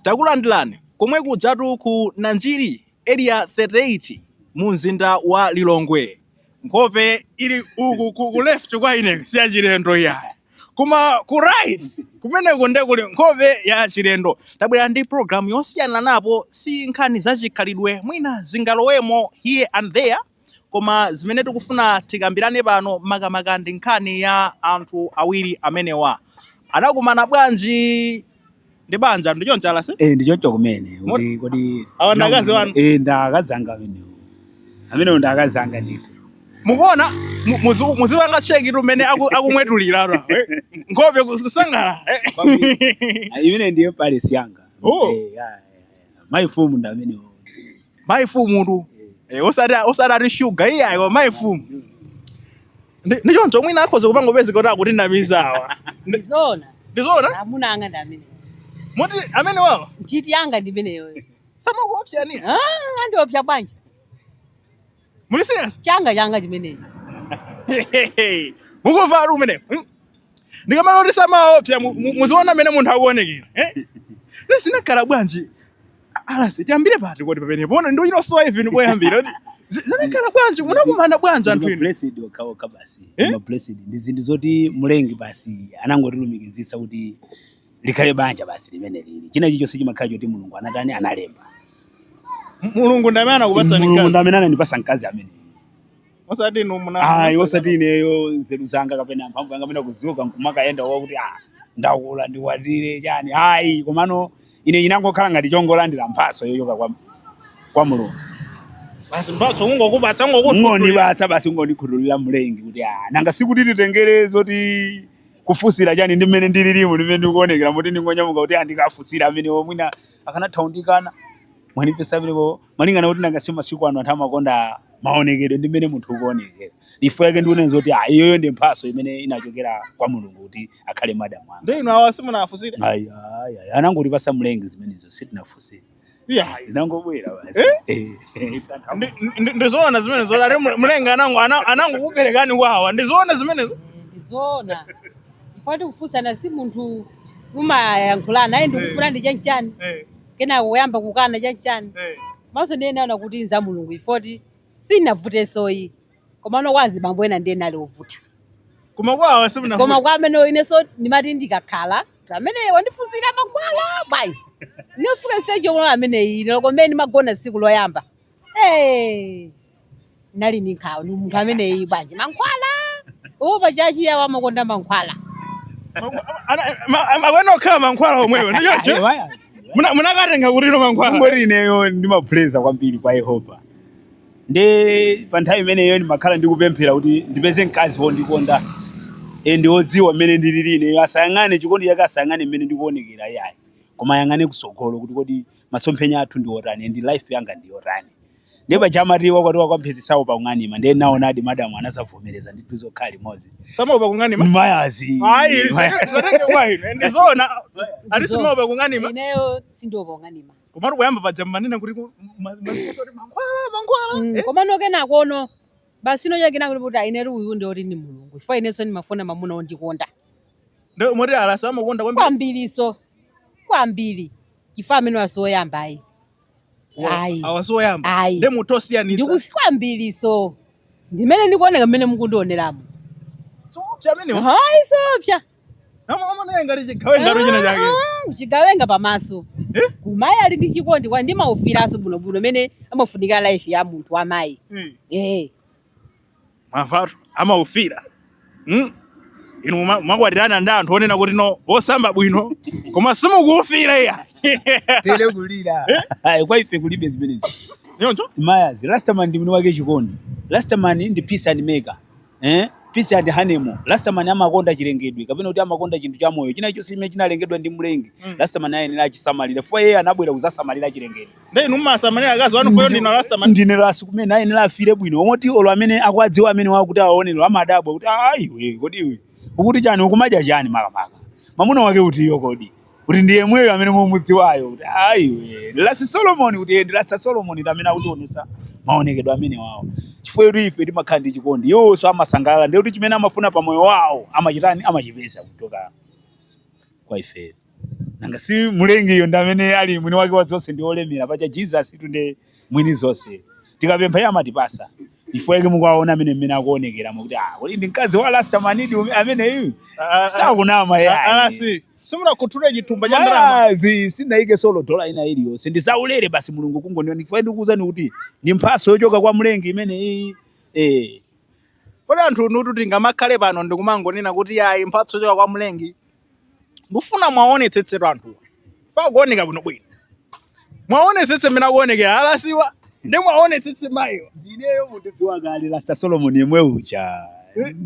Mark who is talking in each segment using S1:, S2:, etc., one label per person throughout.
S1: Takulandirani komwe kujatu ku Nanjiri Area 38 mu mzinda wa Lilongwe. Nkhope ili uku ku, ku left kwa ine si yachilendo iyayi, koma ku right kumeneko nde kuli nkhope ya chilendo. Tabwera ndi program yosiyananapo, si nkhani za chikhalidwe, mwina zingalowemo here and there. Koma zimene tikufuna tikambirane pano makamaka ndi nkhani ya anthu awiri amenewa. Anakumana bwanji ndi banja ndi choncho a Rasi? Eh, ndi choncho kumene. Mot-
S2: Kodi kodi Awa ndi akazi wanu?
S1: Eh, ndi akazi anga amenewo.
S2: Amenewo ndi akazi anga ndithu.
S1: Mukuona mu- muzi- muzipanga cheki tu mmene aku- akumwetulira apa. Nkhope kus- kusangalala.
S2: Ah, Imene ndiye empress yanga. Oh. Eh, ya, ya, ya. Mayi fumu ndi amenewo. mayi
S1: fumu tu Eh, osati osati ati shuga iyayi koma mayi fumu Ndi- ndi choncho mwina akhoza kupanga kupezeka kuti akutinamiza awa ndizona
S3: ndizoona
S1: amuna anga ndi
S3: amene
S1: moti amenewawa nthiti yanga ndi
S3: imeneyoyo samakuopsani
S1: andiopsa bwanji muli serious changa changa chimenechi mukumva ali umenewo hmm? ndikamanena kuti samaopsa mu- mu- muziona mmene munthu akuonekera eh? zinakhala bwanji a Rasi tiyambire pati kodi pamenepano ndikuchita kusowa even poyambira kuti zi- zinakhala bwanji munakumana bwanji anthu inu mablessed okhaokha basi
S2: Eh? mablessed ndi zinthu zoti mlengi basi anangotilumikizitsa kuti likhale banja basi limene lili china chilichonse chimakhala choti mulungu anatani analemba
S1: M- mulungu ndi amene anakupatsani mkazi mulungu ndi amene anandipasa mkazi
S2: amene osati
S1: inu muna ayi osati ineyo
S2: nzeru zanga kapena mphamvu yanga kapena kudzuka nkumakayenda wakuti ah ndakula ndikwatire chani ayi komano ine inangokhala ngati chongolandira mphaso yochoka kwa, kwa mulungu basi
S1: mphatso kungokupatsa kungokutulira kungondipatsa
S2: basi kungondikhuthulira mlengi kuti ah nanga sikuti titengere zoti kufunsira chani ndi mmene ndililimu ndi mmene ndikuonekera moti ndingonyamuka kuti ah ndikafunsire amenewo mwina akanatha kundikana mwanipeza pamenepo malingana kuti nanga si masiku ano anthu amakonda maonekedwe ndi mmene munthu ukuonekera chifukwa chake ndikunena kuti ah, iyoyo ndi mphaso imene inachokera kwa mulungu kuti akhale madamu anga ndi inu awa simunafunsire
S1: Ayi, ayi, ayi. anangotipasa
S2: mlengi zimenezo sitinafunsire Yeah. zinangobwera basi Eh? Eh, eh, tantha- Ndi-
S1: ndi- ndizoona zimene zoti ati mlengi anango ana- anangokuperekani kwa awa ndizoona zimenezo Eh, ndizoona
S3: ifoti kufunsana si munthu umayankhulana naye ndikufunani chanchani Eh, kenako kuyamba kukana chanchani eh. maso ndiye ndinaona kuti nza mulungu ifoti sinavutensoyi komano kwa azibambo ena ndiye nali ovuta koma kwa
S1: awa simunavute koma kwa amene
S3: inenso ndimati ndikakhala kuti amene wandifunsira mankhwala bwanji ndinofika stage yomwe ameneyi lero komene ndimagona tsiku loyamba Eh, ndinali ndi nkhawa ndi munthu ameneyi bwanji mankhwala awo pachachi yawo amakonda
S1: mankhwala amene okhala mankhwala omwewo ndichocho munakatenga kuti no mankhwala Ngati ineyo
S2: ndimapreya kwambiri kwa Yehova. nde pa nthawi imeneyo ndimakhala ndikupemphera kuti ndipeze mkazi wondikonda and wodziwa mmene ndilili ineyo asayang'ane chikondi chake asayang'ane mmene ndikuonekera iyayi koma ayang'ane kusogolo kuti kodi masomphenya athu ndi otani and life yanga ndi yotani ndiye paja amati wakwatiwa kwa mphezi saopa kung'anima ndiye ndaonadi madamu anazavomereza ndithu zokhala limodzi samaopa kung'anima mayazi ayi
S1: satenge kwa ine ndizona alasi
S2: simaopa kung'anima ineyo
S1: sindiopa kung'anima
S3: komatu poyamba paja
S1: mmanena kuti ku- ma- maziso kuti mankhwala mankhwala Mm, eh? komano
S3: kenakono basi ino chakena kuti kuti ayi inetu uyu ndi oti ndi mulungu chifukwa inenso ndimafuna mamuna ondikonda Nde moti
S1: alasi amakonda kwambiri kwambiriso
S3: kwambiri chifukwa amenewa si woyamba ayi Wa- ayi awa si
S1: oyamba ayi nde munthu osiyanitsa ndikusi kwambiriso
S3: ndimene ndikuoneka mmene mukundioneramo
S1: sowopsa amenewo ayi sowopsa amaoneka ngati chigawenga ngati china chake Ah, chigawenga
S3: pamaso Eh? koma ayi ali ndi chikondi kwa ndimaufiranso bwinobwino mmene imafunika life ya munthu wa mayi Eh, eh
S1: mavatu amaufira Mm. inu muma- mumakwatirana ndi anthu onena kuti no osamba bwino koma simukuufira iyayi
S2: tele kulira ayi kwa ife kulibe zimenezo nyoncho
S1: mayazi rastaman
S2: ndi mwini wake chikondi rastaman ndi peace and maker eh? peace and honeymoon rastaman amakonda chilengedwe kapena kuti amakonda chinthu cha moyo china chonse chimene chinalengedwa ndi mlengi Mm. rastaman ayenera achisamalire chifukwa iye anabwera kuzasamalira chilengedwe Ndiye inu mmasamalira
S1: akazi anu chifukwa ndinu a rastaman. ndine lasi kumene
S2: ayenera afire bwino moti olo amene akuwadziwa amenewa kuti awaone lero amadabwa kuti "Ah, iwe kodi iwe ukuti chani ukumadya chani makamaka mamuna wake uti uyo kodi kuti ndi yemweyo amene mumudziwayo kuti ayi ndi lasi solomoni kuti iye ndi lasi solomoni ndi amene akutionesa maonekedwe amenewawo chifukwa kuti ife timakhala ndi chikondi iwonso amasangalala ndiye kuti chimene amafuna pa moyo wawo amachitani amachipeza kuchoka kwa ifeyo nanga si mlengiyo ndi amene ali mwini wake wa zonse ndi olemera paja jesus tu ndi mwini zonse tikapempha iye amatipasa chifukwa yake mukuwaona amene mmene akuonekeramo kuti ah, kodi ndi mkazi wa rastamanidi ume- ameneyu sakunama yayi alasi
S1: simunakhuthule chithumba cha ndalama yazi sindayike
S2: olo dola ina iliyonse ndi zaulere basi mulungu kungoniona chifukwa ndikuwuzani kuti ndi mphatso yochoka kwa mlengi imeneyi eh.
S1: kodi anthu inutu tingamakhale pano ndikumangonena kuti ayi mphatso yochoka kwa mlengi ndifuna mwaonetsetsetu anthuwa chifukwa akuoneka bwinobwino mwaonetsetse mmene akuonekera alasiwa ndi mwaonetsetse mayiwa ndineyo
S2: mutidziwa kale rasta solomon yemwe uja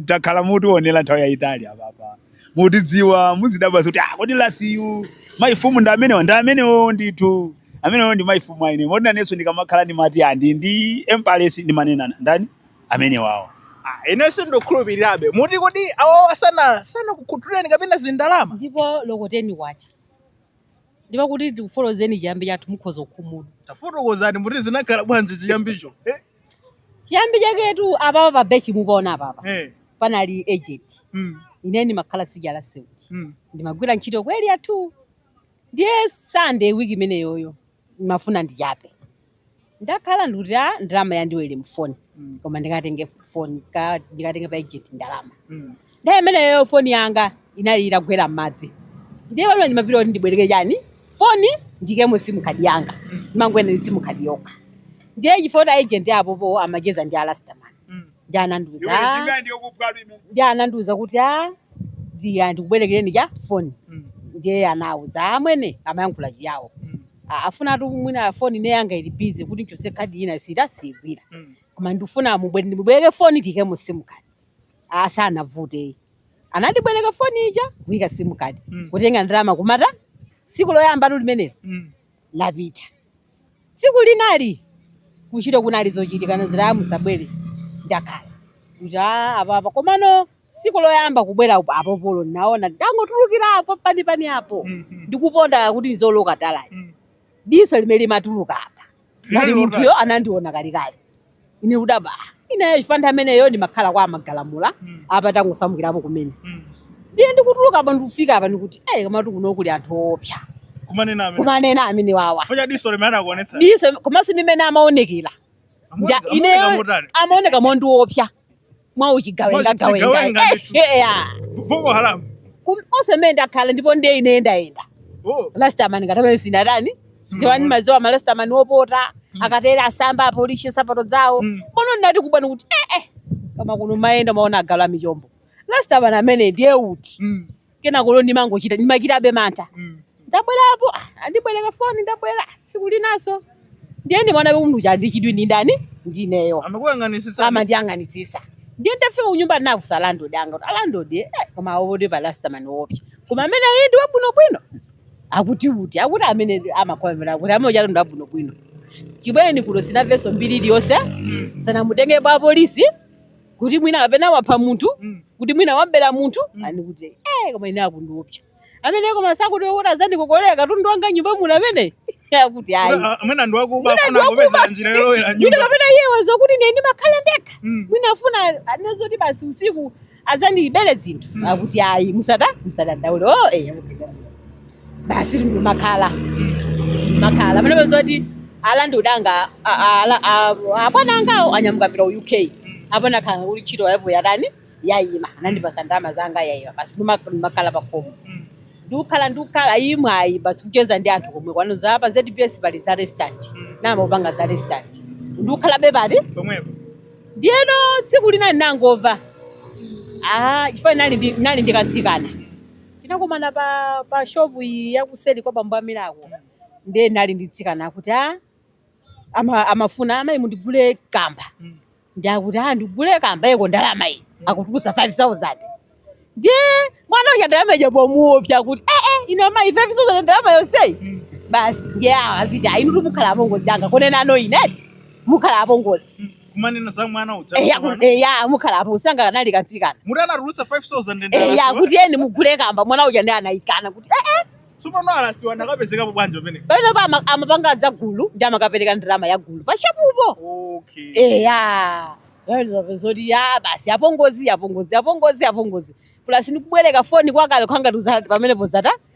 S2: takhala mutionera nthawi yayitali apapa mutidziwa muzidabwa kuti ah, kodi lasiyu mayifumu ndi amenewa ndi amenewo ndithu amenewo ndi mayifumu aine moti nanenso ndikamakhala ndimati a ndi ndi empress ndimanena ndani amenewawo Ah, ine
S1: sindikukhulupirirabe muti kodi awawa sana sanakukhuthuleni kapena zindalama ndipo olo ko
S3: ten kwacha Ndipo kuti tikufotokozeni chiyambi chathu mukhoza kukhumudwa. Tafotokozani
S1: muti zinakhala bwanji chiyambicho? Eh,
S3: Chiyambi chaketu apapa pa bench mupaona apapa. eh, Panali agent. mm, Ine ndimakhala tsidya la Sewuchi. mm, Ndimagwira ntchito ku area 2. Ndiye Sunday week imeneyoyo ndimafuna ndichape. ndakhala ndikuti a ndalama yandilowera mu foni Mm. koma ndikatenge foni ka- ndikatenge pa ejenti ndalama Mm. nthawi imeneyo foni yanga inali itagwera m'madzi ndiye pamene ndimapita kuti ndibwereke chani foni ndiikemo simu kadi yanga Mm. ndimangoyenda ndi simu kadi yokha ndiye chifukwa kuti aejenti apopo amacheza ndi a rastaman Mm. ndi anandiuza iwe "Ah, ndinga ndiye kupwatu imene ndi anandiuza kuti a ndiya ndikubwerekereni cha foni Mm, ndiye anauza amwene amayankhula chiyawo mm, A- afuna ati mwina foni ine yanga ili busy kuti nchotse kadi ina sita siyigwira mm. koma ndifuna mubwere ndimubwereke foni ndiikemo simu kadi a sanavute anandibwereka foni ija kuyika simu kadi Mm, kutenga ndalama kumata tsiku loyambatu limenelo mm. lapita Tsiku linali kuntchito kunali zochitika anazoti aa musabwele ndakhala kuti aa apapa komano tsiku loyamba kubwela upo apo polo naona ndangotulukila apo mpanipani apo ndikuponda kuti ndizioloka tala ayi diso limene limatuluka apa ngati munthuyo anandiona kalekale ine kudabwa "Ah, ineyo chifukwa nthawi imeneyo ndimakhala kwa amagalamula Mm. apa tangosamukirapo kumene Mm. ndiye ndikutuluka apa ndikufika apa ndikuti eh komatu kuno kuli anthu oopsa kumanena amene kumanena amene wawa chifukwa cha diso limene
S1: anakuonetsa diso komanso ndi
S3: mmene amaonekera Amuoneka- Nja- amaoneka ineyo motani? amaoneka mondiopsa mwa uchigawenga gawenga Mwachigawenga Eh, ndithu.
S1: eh, ah. boko haramu Kum- monse mmene
S3: ndakhala ndipo ndiye ine ndayenda oh. rastaman ngati amene sinatani sindidziwa ndimadziwa marastaman opota akatera asamba apolishe nsapato zawo Mm. pano ndinati kubwani kuti eh, eh, koma kuno mwayenda mwaona agalu a michombo rastaman amene ndiye uti mm. kenako lo ndimangochita ndimachitabe mantha ndabwerapo ah, andibwereka foni ndabwera tsiku linanso ndiye ndimaonabe munthu uja ndi chidwi ndi ndani ndineyo amakuyang'anitsitsa amandiyang'anitsitsa ndiye ndafika kunyumba ndinafunsa landlord anga kuti alandlord eh, koma awote pa rastaman woopsa koma amene ayi ndi wabwinobwino akuti uti akuti amene ndi- amakhomera akuti amene uja ndi wabwinobwino chibwereni kuno sindinamvenso mbiri iliyonse sanamutenge apolisi kuti mwina kapena wapha munthu Mm. kuti mwina wabera munthu Mm. ani kuti eh koma ine akundiopsa amene koma sakuti kuti azandikokolera katundu wanga m'nyumba muno amene akuti ayi Mwina- ah, mwina ndi wakuba Mwina afuna
S1: ndi kupeza wakuba. njira yolowera mwina m'nyumba kapena iye waziwa
S3: kuti ine ndimakhala ndekha Mm. mwina afuna anene zoti basi usiku azandibere zinthu Mm. akuti ayi musata musadandaule o eya mupeza basi ndimakhala makhala pamenepa zoti a landlord anga a- a- ala- a- abwana angawo anyamuka pita ku uk apa nakhala kuti ntchito yapo yatani yayima anandipasa ndalama zanga yayima basi ndima- ndimakhala pakhomo ndikukhala ndikukhala imwe ayi basi kucheza ndi anthu komwe kwanuko za pa zbs pali za restaurant ndimapanga za restaurant ndikukhala bepati pomwepo
S1: ndiyeno
S3: tsiku lina ndinangova ah chifukwa nali ndi- nali ndi katsikana Tinakumana pa pa shop iyi ya kuseri kwa bambo a Milako. Ndiye ndinali ndi katsikana akuti a ama, amafuna amayi mundigule kamba. Ndi akuti a ndigule kamba eko, ndalama iyi. Akutulusa 5000. Ndiye mwana uja ndalama ija pomuopsa kuti eh eh inu amayi 5000 ndalama yonseyi. Basi ndiye awa aziti ayi inu mukhala apongozi anga kunena kwa ine eti. Mukhala apongozi. kumanena za
S1: mwana uja eya ku- tsopano. eya mukhala
S3: apongozi anga kanali katsikana muti anatulutsa 5000
S1: eya ndalasiwa kuti eni mugule
S3: kamba mwana uja ndiye anayikana kuti eh, eh, tsopano alasiwa
S1: ndakapezekapo bwanji pamene pamene pa ama- amapanga
S3: za gulu ndi amakapereka ndalama ya gulu pashopupo okay eya zoti ya basi apongozi apongozi apongozi apongozi plus ndikubwereka foni kwakale kuja ngati uzati pamenepo zata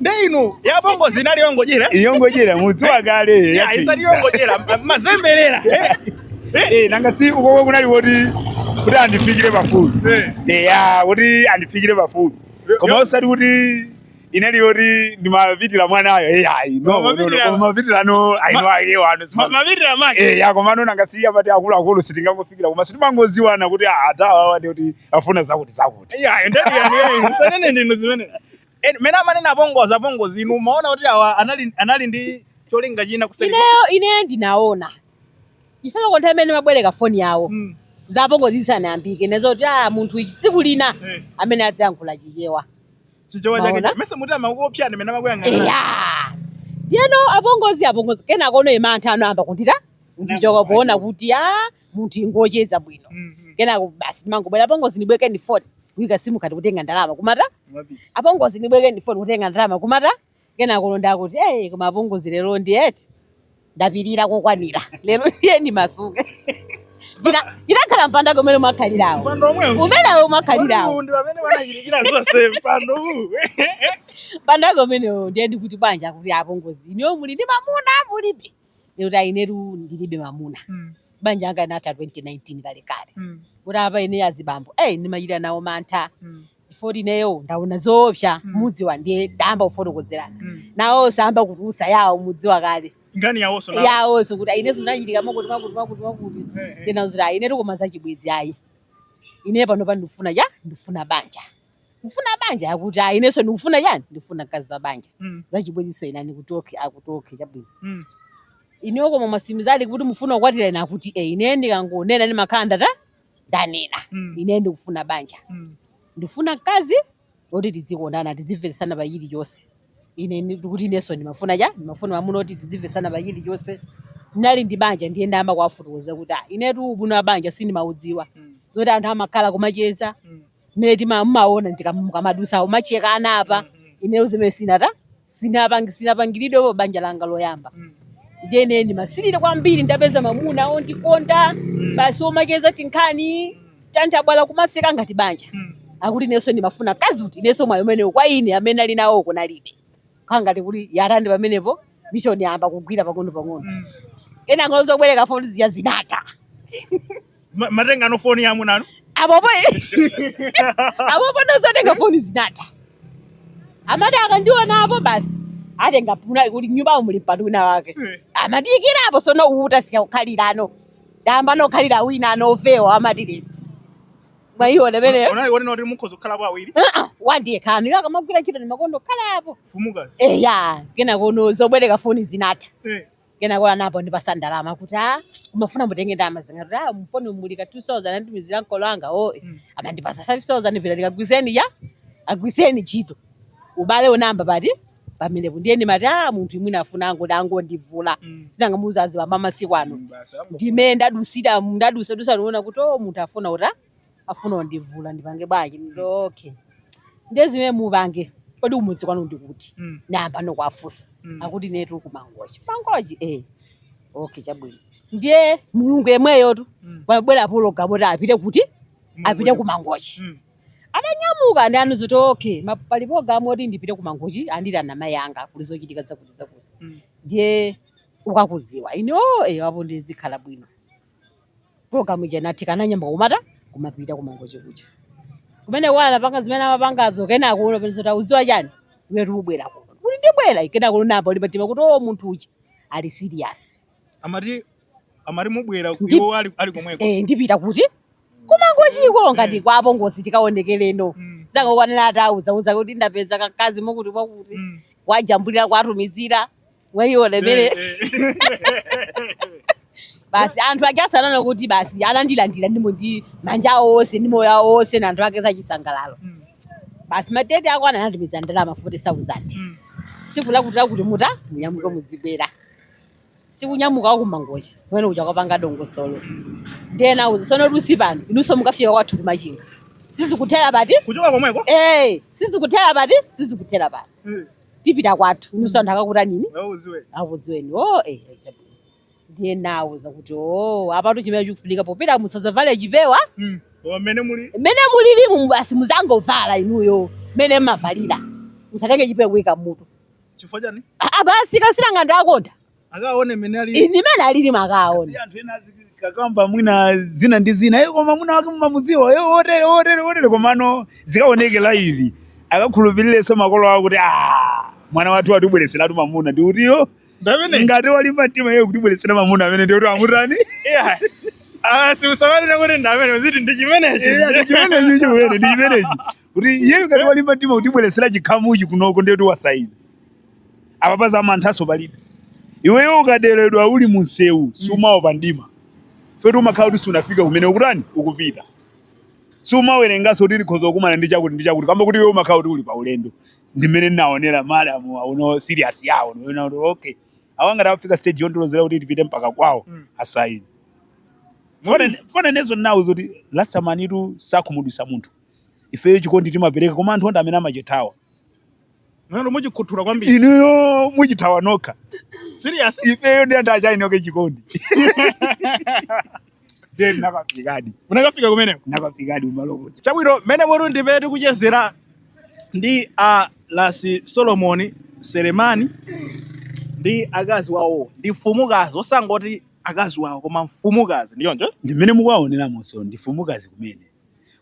S2: nde
S1: inu ya apongozi inali yongodyera yongodyera
S2: mudziwa kale ya isanali
S1: yongodyera mazemberera eh,
S2: eh. eh nanga si uko kunali woti kuti andifikire pafupi eh. eh ya woti andifikire pafupi koma osati kuti inali yoti ndimapitira mwanayo eh ayi no no no koma mapitira no ayi no ayi wano si mapitira make eh
S1: ya koma no nanga si apati
S2: akulu akulu sitingangofikira koma si timangoziwana kuti ah, a awawa ndi kuti afuna zakuti zakuti ya ndati ya
S1: nisanene ndinu zimene Eni- Mene amanena apongozi apongozi inu maona kuti awa anali anali ndi cholinga china kuseri. ineyo ineyo
S3: ndinaona chifukwa nthawi imene ndimabwereka foni yawo Mm. za apongozi zisanayambike ndinaziwa kuti ah munthu uyu tsiku lina Eh. amene adzayankhula chichewa Chichewa
S1: chake. Maona? Mesa munthu amakuopya ndi mene amakuyang'ana. eya ndiyeno
S3: apongozi apongozi kenakono mantha anayamba kundita kundichoka poona kuti a munthuyu akungocheza bwino Mhm. kenako basi ndimangobwera apongozi ndibwekeni foni kuika simu kadi kutenga ndalama kumata Mwapita. apongozi ndibwerekeni foni kutenga ndalama kumata kenako wodandaula akuti hey, koma apongozi lero ndiye eti ndapirira kokwanira lero ndiye ndimasuke Tina- tinakhala mpando umene mwakhalirawo Mpando omwewu. umenewo mwakhalirawo Mpando ndi pamene wanachirikira
S1: zonse mpando uwu.
S3: mpando umenewo ndiye ndikuti bwanji kuti apongozi inuyo muli ndi mamuna mulibe kuti ayi inetu ndilibe mamuna Mm. banja langa linatha 2019 kale kale Mm. kuti apa ine azibambo ayi ndimachita nawo mantha Mm. poti ineyo ndaona zoopsa Mm. mudzi wa ndiye tayamba kufotokozerana Mm. nawonso ayamba kutulutsa yawo mudzi wa kale Nkhani
S1: yawonso nawo. yawonso
S3: kuti ayi inenso zinachitika mwakuti mwakuti mwakuti mwakuti Eh, eh. ndinawauza zoti ayi inetu koma zachibwezi ayi ine pano pa ndifuna chani ndifuna banja mufuna banja akuti ayi inenso ndikufuna chani ndikufuna mkazi wa banja Mm. zachibwenzinso ine ndikuti okay akuti okay chabwino Mm. ineyo koma mwatsimikizadi kuti mufuna kukwatira ine akuti e ine ndikangonena ndimakhala ndatha ndanena Mm. ine ndikufuna banja Mm. ndifuna mkazi woti tizikondana tizimvetsana pa chilichonse ine ni- ndikuti inenso ndimafuna cha ndimafuna mwamuna woti tizimvetsana pa chilichonse ndinali ndi banja ndiye ndayamba kuwafotokozera kuti "Ah, inetu ubwino wa banja sindimaudziwa Mm. zoti anthu amakhala kumacheza Mm. mmene tima- mumaona ndika- mukamadusa mumacheza anapa ineyo zimenezi sindina sindinapang- sindinapangiridwepo pa banja langa loyamba ndiye ine ndimasirira kwambiri ndapeza mamuna ondikonda basi omacheza tinkhani tanthabwala kumaseka ngati banja akuti inenso ndimafuna mkazi kuti inenso mwayi umenewo kwa ine amene ali nawo kunalibe kukhala ngati kuti yarandi pamenepo mishoni yayamba kugwira pang'ono pang'ono Mm. kenakono zobwereka foni zija
S1: zinatha Ma- mumatengano foni ya amuna anu apopo
S3: apopono zotenga foni zinatha amati akandiona apo basi atenga mpando kuti m'nyumba muli mpando wina wake Eh. amandiikirapo tsono uwu tasiya kukhalirano tayambano kukhalira winano wofewa wamatiresi mwayiona imeneyo unali wonena kuti
S1: mukhoza kukhalapo awiri
S3: Ah, ndiye akamagwira ntchito ndimakonda ukhalapo fumukazi eya kenakono zobwereka foni zinatha Eh, kenakono anayamba undipatsa ndalama kuti a mumafuna mutenge ndalama zingati a m'foni muli ka 2000 anditumizira ankolo anga o Mm. amandipatsa 5000 pitani kagwiritseni eya kagwiritseni ntchito ubale unayamba pati pamenepo ndiye ndimati a munthuyu mwina afuna angoti angondivula Mm. si nanga mudziwa azibambo amasiku ano Mm, basi, ambo- ndime ndadutsira ndadutsa dutsa ndinaona kuti o munthuyu afuna kuti afuna undivula ndipange bwanji nditi okay ndiye zimene mupange kodi kumudzi kwanu ndi kuti Mm, ndayambano kuwafunsa mm. akuti inetu kumangochi mangochi eh okay chabwino ndiye mulungu yemweyotu Mm. yabwera pologalamu yoti apite kuti apite kumangochi Mm. atanyamuka anandiuza zoti okay ma- pali program yoti ndipite ku mangochi andira na mai anga kuli zochitika zakuti zakuti Mm. ndiye ukakudziwa ine o eyo apo ndizikhala bwino program ija inatheka ananyamuka kumati kumapita ku mangochi kuja kumene wala anapanga zimene amapangazo kenako anaona zoti ukudziwa chani iwetu ubwere kuno kuti ndibwera kenako unayamba ulimba mtima kuti o munthu uja ali serious amati
S1: amati mubwera Ndi- iwo ali ali komweko eh, ndipita
S3: kuti ku Mangochiko ngati kwa apongozi tikaonekereno Mm, zangokwanira atauzauza kuti ndapeza kakazi kokuti kwakuti mm. wajambulira kwatumizira ayione mmene Eh, eh. basi anthu ajasanana kuti basi anandilandira ndimomo ndi manja awo onse ndi moyo awo onse na anthu ake zachisangalalo Mm, basi madeti ako ananatumiza ndalama 40000 mm. tsiku lakuti lakuti mutha munyamuke mudzibwera sikunyamuka wa ku Mangochi kumene kuja kwapanga dongosolo ndiye nawauza tsono Lusi pano inunso mukafika kwathu ku Machinga sizikuthera pati kuchoka komweko eh
S1: sizikuthera
S3: pati sizikuthera pati tipita kwathu inunso anthu akakutanini auziwe akudziweni o eh eh, chabwino ndiye nawauza kuti o apatu chimene chikufunika popita musazavale chipewa koma mmene
S1: muli mmene mulilimu
S3: basi muzangovala inuyo mmene mmavalira musatenge chipewa kuika mutu
S1: chifukwa chani Ah, basi ka sitayilo
S3: kanga ndakonda akaone
S1: mmene ali ndi mmene alili
S3: mukaona si anthu
S2: ena azikakamba mwina zina ndi zina iye koma mwina wake mumamudziwa iye otere otere otere komano zikaoneke live akakhulupirirenso makolo awo kuti "Ah, mwana wathu watibweretseratu mamuna ndi otiyo ndamene ngati walimba mtima iye kutibweretsera mamuna amene ndi kuti amutani siusamalira
S1: kuti ndamene uziti ndi chimenechi chimenechi chimene ndi chimenechi
S2: kuti iyeyo ngati walimba mtima kutibweretsera chikhamuchi kunoko ndiye kuti wasaina apa paza manthanso palibe iweyo ukaderedwa uli mumsewu siumaopa mdima feti umakhala kuti sunafika kumene ukutani ukupita siumawerenganso kuti likhoza kukumana ndi chakuti ndi chakuti kamba kuti iwe umakhala kuti uli pa ulendo ndimene ndinaonera madamuwa kuona serious yawo ndiona kuti okay awa ngati afika stage yondolozera kuti tipite mpaka kwawo Mm. asaina form ndiye nawauza zoti last time inetu sindikhumudwitsa munthu ifeyo chikondi timapereka koma anthu ndi amene amachithawa Nanu
S1: mumachikhuthula kwambiri. inuyo
S2: mumachithawa nokha
S1: Serious? ifeyo ndi anthu
S2: a Chainoko chikondi then nakafikadi Munakafika kumeneko.
S1: nakafikadi kumaloko
S2: Chabwino mmene
S1: mukutimvera tikuchezera ndi a Lasi Solomon Selemani ndi akazi wawo ndi mfumukazi osangoti akazi wawo koma mfumukazi ndithu monga mmene mukuwaoneramonso
S2: ndi mfumukazi kumene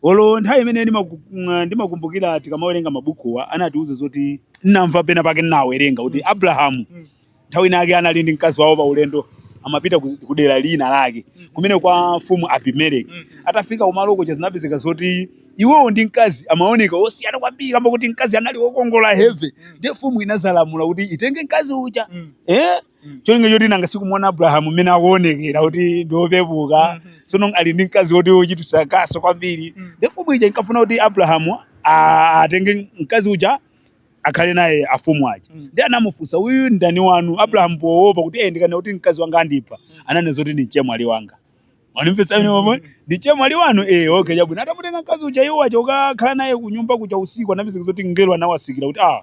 S2: olo nthawi imene ndimaku- mm, ndimakumbukira tikamawerenga mabukuwa anatiuza zoti nnamva pena pake ndinawerenga kuti Abrahamu Mm. nthawi ina yake anali ndi mkazi wawo pa ulendo amapita ku ku dera lina lake kumene kwa mfumu Abimeleki Mm. atafika kumaloko zinapezeka zoti iwowo ndi mkazi amaoneka osiyana kwambiri kamba kuti mkazi anali wokongola heavy ndiye mfumu inazalamula kuti itenge mkazi uja Mm. eh cholinga choti nanga sikumuona abrahamu mmene akuonekera kuti ndi wopepuka sono ali ndi mkazi woti wochititsa kaso kwambiri ndiye mfumu ija inkafuna kuti abrahamu a- atenge mkazi uja akhale naye afumu aja ndiye anamufunsa uyu ndani wanu abrahamu poopa kuti ndikanena kuti mkazi wanga andipha ananena zoti ndi mchemwali wanga mwandimvesa ine momwe ndi mchemwali wanu eh okay chabwino atamutenga mkazi uja iwo aja kukakhala naye kunyumba kuja usiku anapezeka zoti mngelo anawatsikira kuti ah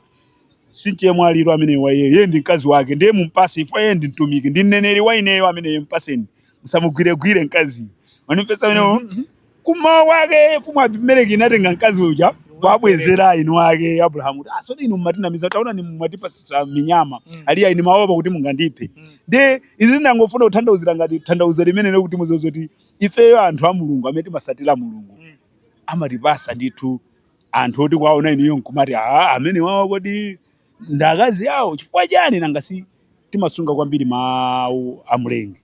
S2: Si mchemwali ameneyo wa iye, iye ndi mkazi wake, ndiye mumpase chifukwa iye ndi mtumiki, ndi mneneri wa ineyo ameneyo, mpaseni. Musamugwiregwire mkaziyo. Mwandimvetsa amene mm -hmm. Kummawa kwake mfumu Abimeleki inatenga mkazi uja kuwabwezera eni ake Abrahamu kuti azvoti ah, inu mumatinamiza taonani mwatipatsa minyama mm. ali ayi ine ndimaopa kuti mungandiphe mm. ndiye izi ndangofuna kutanthauzira ngati tanthauzo limene lero kuti muziwe zoti ifeyo anthu a Mulungu amene timasatira Mulungu mm. amatipasa ndithu anthu oti kuwaona inuyo nkumati aa amenewawa kodi ndi akazi awo chifukwa chani nanga si timasunga kwambiri mawu a mlengi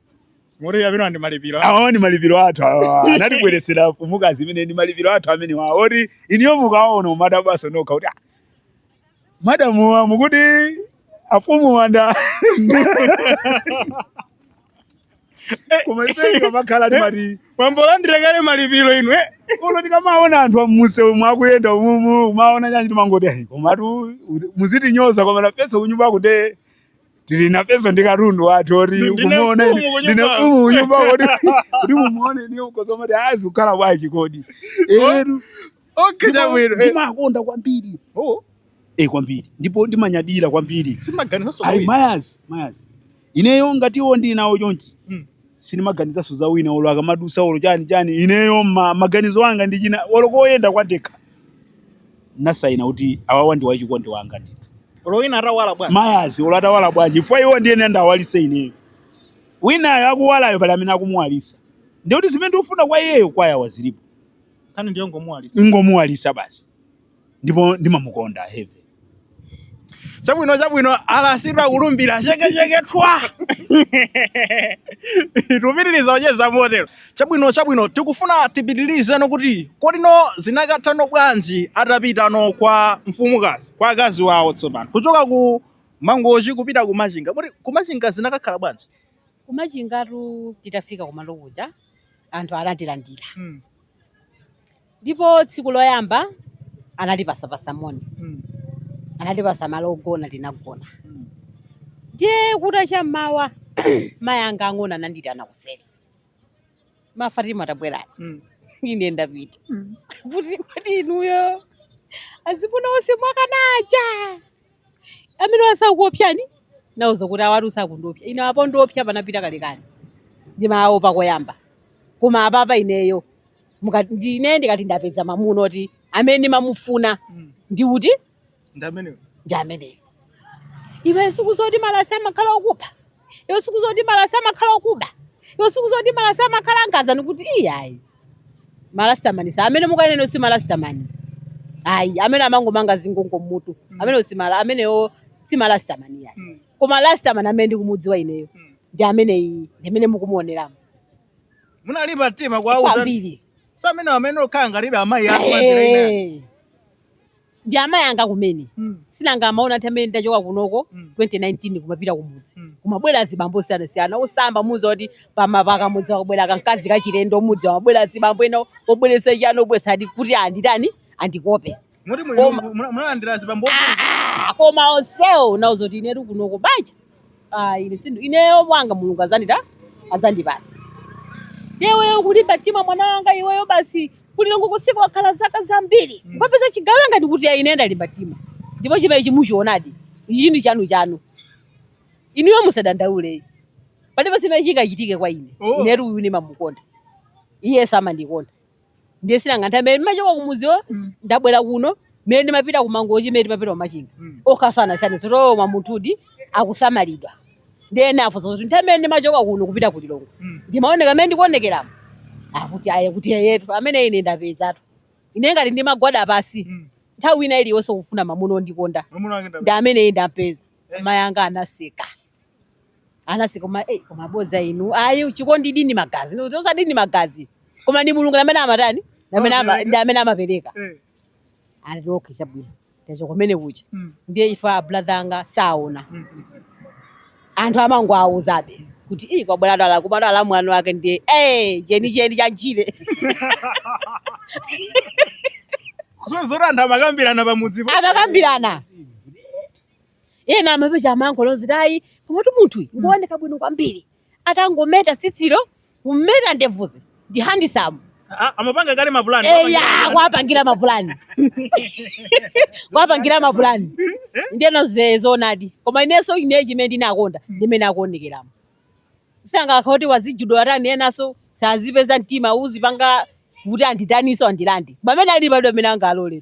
S2: Muri
S1: amenewa ndi malipiro. awa ndi malipiro
S2: athu awa anatibweresera mfumukazi imene ndi malipiro athu amenewa oti inuyo mukaona umadabwaso nokha kuti "Ah, madamuwa mukuti afumu wanda koma ife tikamakhala timati tambolandira kale
S1: malipiro inu eh? uno tikamaona
S2: anthu a mumsewumu akuyenda umumu umaona nyanji timangoti "Ai, komatu muzitinyoza koma nafeso kunyumba kuti tili nafeso ndi katundu wathu oti Ndi- ndine kumuona mfumu ine- kunyumba. ndine mfumu kunyumba kuti kuti mumuone inuyo kozomati akukhala bwanji kodi etu
S1: Okay, Ndima- chabwino. Eh, ndimakonda
S2: kwambiri oh, eh kwambiri ndipo ndimanyadira kwambiri sindimaganizaso ayi
S1: kuwina. mayazi
S2: mayazi ineyo ngati iwo ndili nawo chonchi Mm. sindimaganizaso za wina olo akamadusa olo chani chani ineyo ma, maganizo anga ndi china olo koyenda pandekha ndasaina kuti awawa ndi wachikondi wanga ndi Olo wina
S1: atawala bwanji. mayazi olo atawala
S2: bwanji chifukwa iwo ndiye ineyo nda awalise ineyo winayo akuwalayo pali amene akumuwalisa ndikuti zimene ndikufuna kwa iyeyo kwayawa zilipo nkhani
S1: ndiyongomuwalitsa
S2: ingomuwalisa basi ndipo ndimamukonda heavy chabwino
S1: chabwino alasita kulumbira chekecheke tapitiliza kucheza motero chabwino chabwino tikufuna tipitilizeno kuti kodi no zinakathano bwanji atapitano kwa mfumukazi kwa akazi wawo tsopano kuchoka ku mangochi kupita ku machinga kuti ku machinga zinakakhala bwanji kumachingatu
S3: titafika kumalo kuja anthu anatilandira Mm. ndipo tsiku loyamba anatipasapasa moni Mm. anatipasa malo ogona tinagona Mm. ndiye kuta cha mmawa mayi anga ang'ono ananditana kuseri ma Fatima tabwerani Mm. ine ndapita Mm. kuti kodi inuyo azimuna onse mwakana aja Amene wasakuopsyani nauza kuti awatu sakundiopsya ine apo ndiopsya panapita kalekale ndimawaopa koyamba koma apapa ineyo ine ndikati ndapeza mamuna oti amene ndimamufuna Mm. ndi uti Ndi ameneyo. ndi ameneyo iwe siku zoti marasi amakhala okupha iwe siku zoti marasi amakhala okuba iwe siku zoti marasi amakhala angazani kuti iyayi marastaman si amene mukunena si marastaman ayi amene amangomanga zingongo mmutu amene si mara amenewo si marastaman ayi Mm. koma rastaman amene ndikumudziwa ineyo Mm. ndi amene iyi ndi amene
S1: mukumuoneramo munalimba mtima kwauza kwambiri
S3: amene okhala
S1: ngati amayi ako mazira inani Eh.
S3: ndi amayi anga kumene Mm. sinanga amaona ati amene ndidachoka kunoko Mm. 2019 kumapita kumudzi Mm. kumabwera azibambo osiyanasiyana osamba mudziwa kuti pamapaka mudzi akabwera kamkazi kachilendo mmudzi amabwera azibambo ena obweresa chiyani obweresa ichi kuti anditani andikope Moti Koma-
S1: munalandira azibambo Ah, koma
S3: onsewo ndinauza kuti inetu kunoko banja ah, ine sindu ineyo mwanga mulungu azandita azandipasa iweyo kulimba mtima mwana wanga iweyo basi ku Lilongwe kusiku wakhala zaka zambiri Mm. ukapeza chigawo ndati kuti ya ine ndalimba mtima ndipo chimene chimukuchionadi ichi ndi chanu chanu inuyo musadandaule palibe chimene chingachitike kwa ine Oh. inetu uyu ndimamukonda iye amandikonda ndiye sinanga nthawi imene ndimachoka kumudziwo Mm. ndabwera kuno mmene ndimapita kumangochi mmene ndimapita kumachinga Mm. akasandiona anazadabwa munthudi akusamalidwa ndiye ena afunsa kuti nthawi imene ndimachoka kuno kupita ku lilongwe Mm. ndimaoneka amene ndikuonekeramu akuti ayi kuti eyetu amene ine ndapezatu ine ngati ndimagwada pasi Mm. nthawi ina iliyonse kufuna mamuna ondikonda Mwamuna wake ndi. amene ine ndampeza Eh. amayi anga anaseka anati koma eh, koma bodza inu ayi chikondi ndi ni magazi Ndikuti osati ndi magazi koma ndi mulungu amene amatani Ndi amene ama- Amapereka. ndi amene amapereka Eh. anati okay chabwino tacho kumene kucha Mm. ndiye ife abrother anga sanaone Mm, mm. anthu amangowauzabe kuti ii kwabwera dala kubadwa la mwana wake ndiye eh chenicheni cha
S1: njire so zoti anthu amakambirana pamudzipo amakambirana
S3: ena amapeza amangoloza kuti ayi komatu munthuyu ngooneka bwino kwambiri atangometa tsitsilo kumeta ndevuzi ndi handisamu Ah, amapanga kale
S1: mapulani eya kuwapangira
S3: mapulani kuwapangira mapulani ndiyeno zoonadi koma inenso ine chimene ndinakonda ndimene akuonekeramo sangakha kuti wazijudo atani enaso sazipeza mtima uzipanga kuti anditaniso andilande pamene ali palibe amene angalole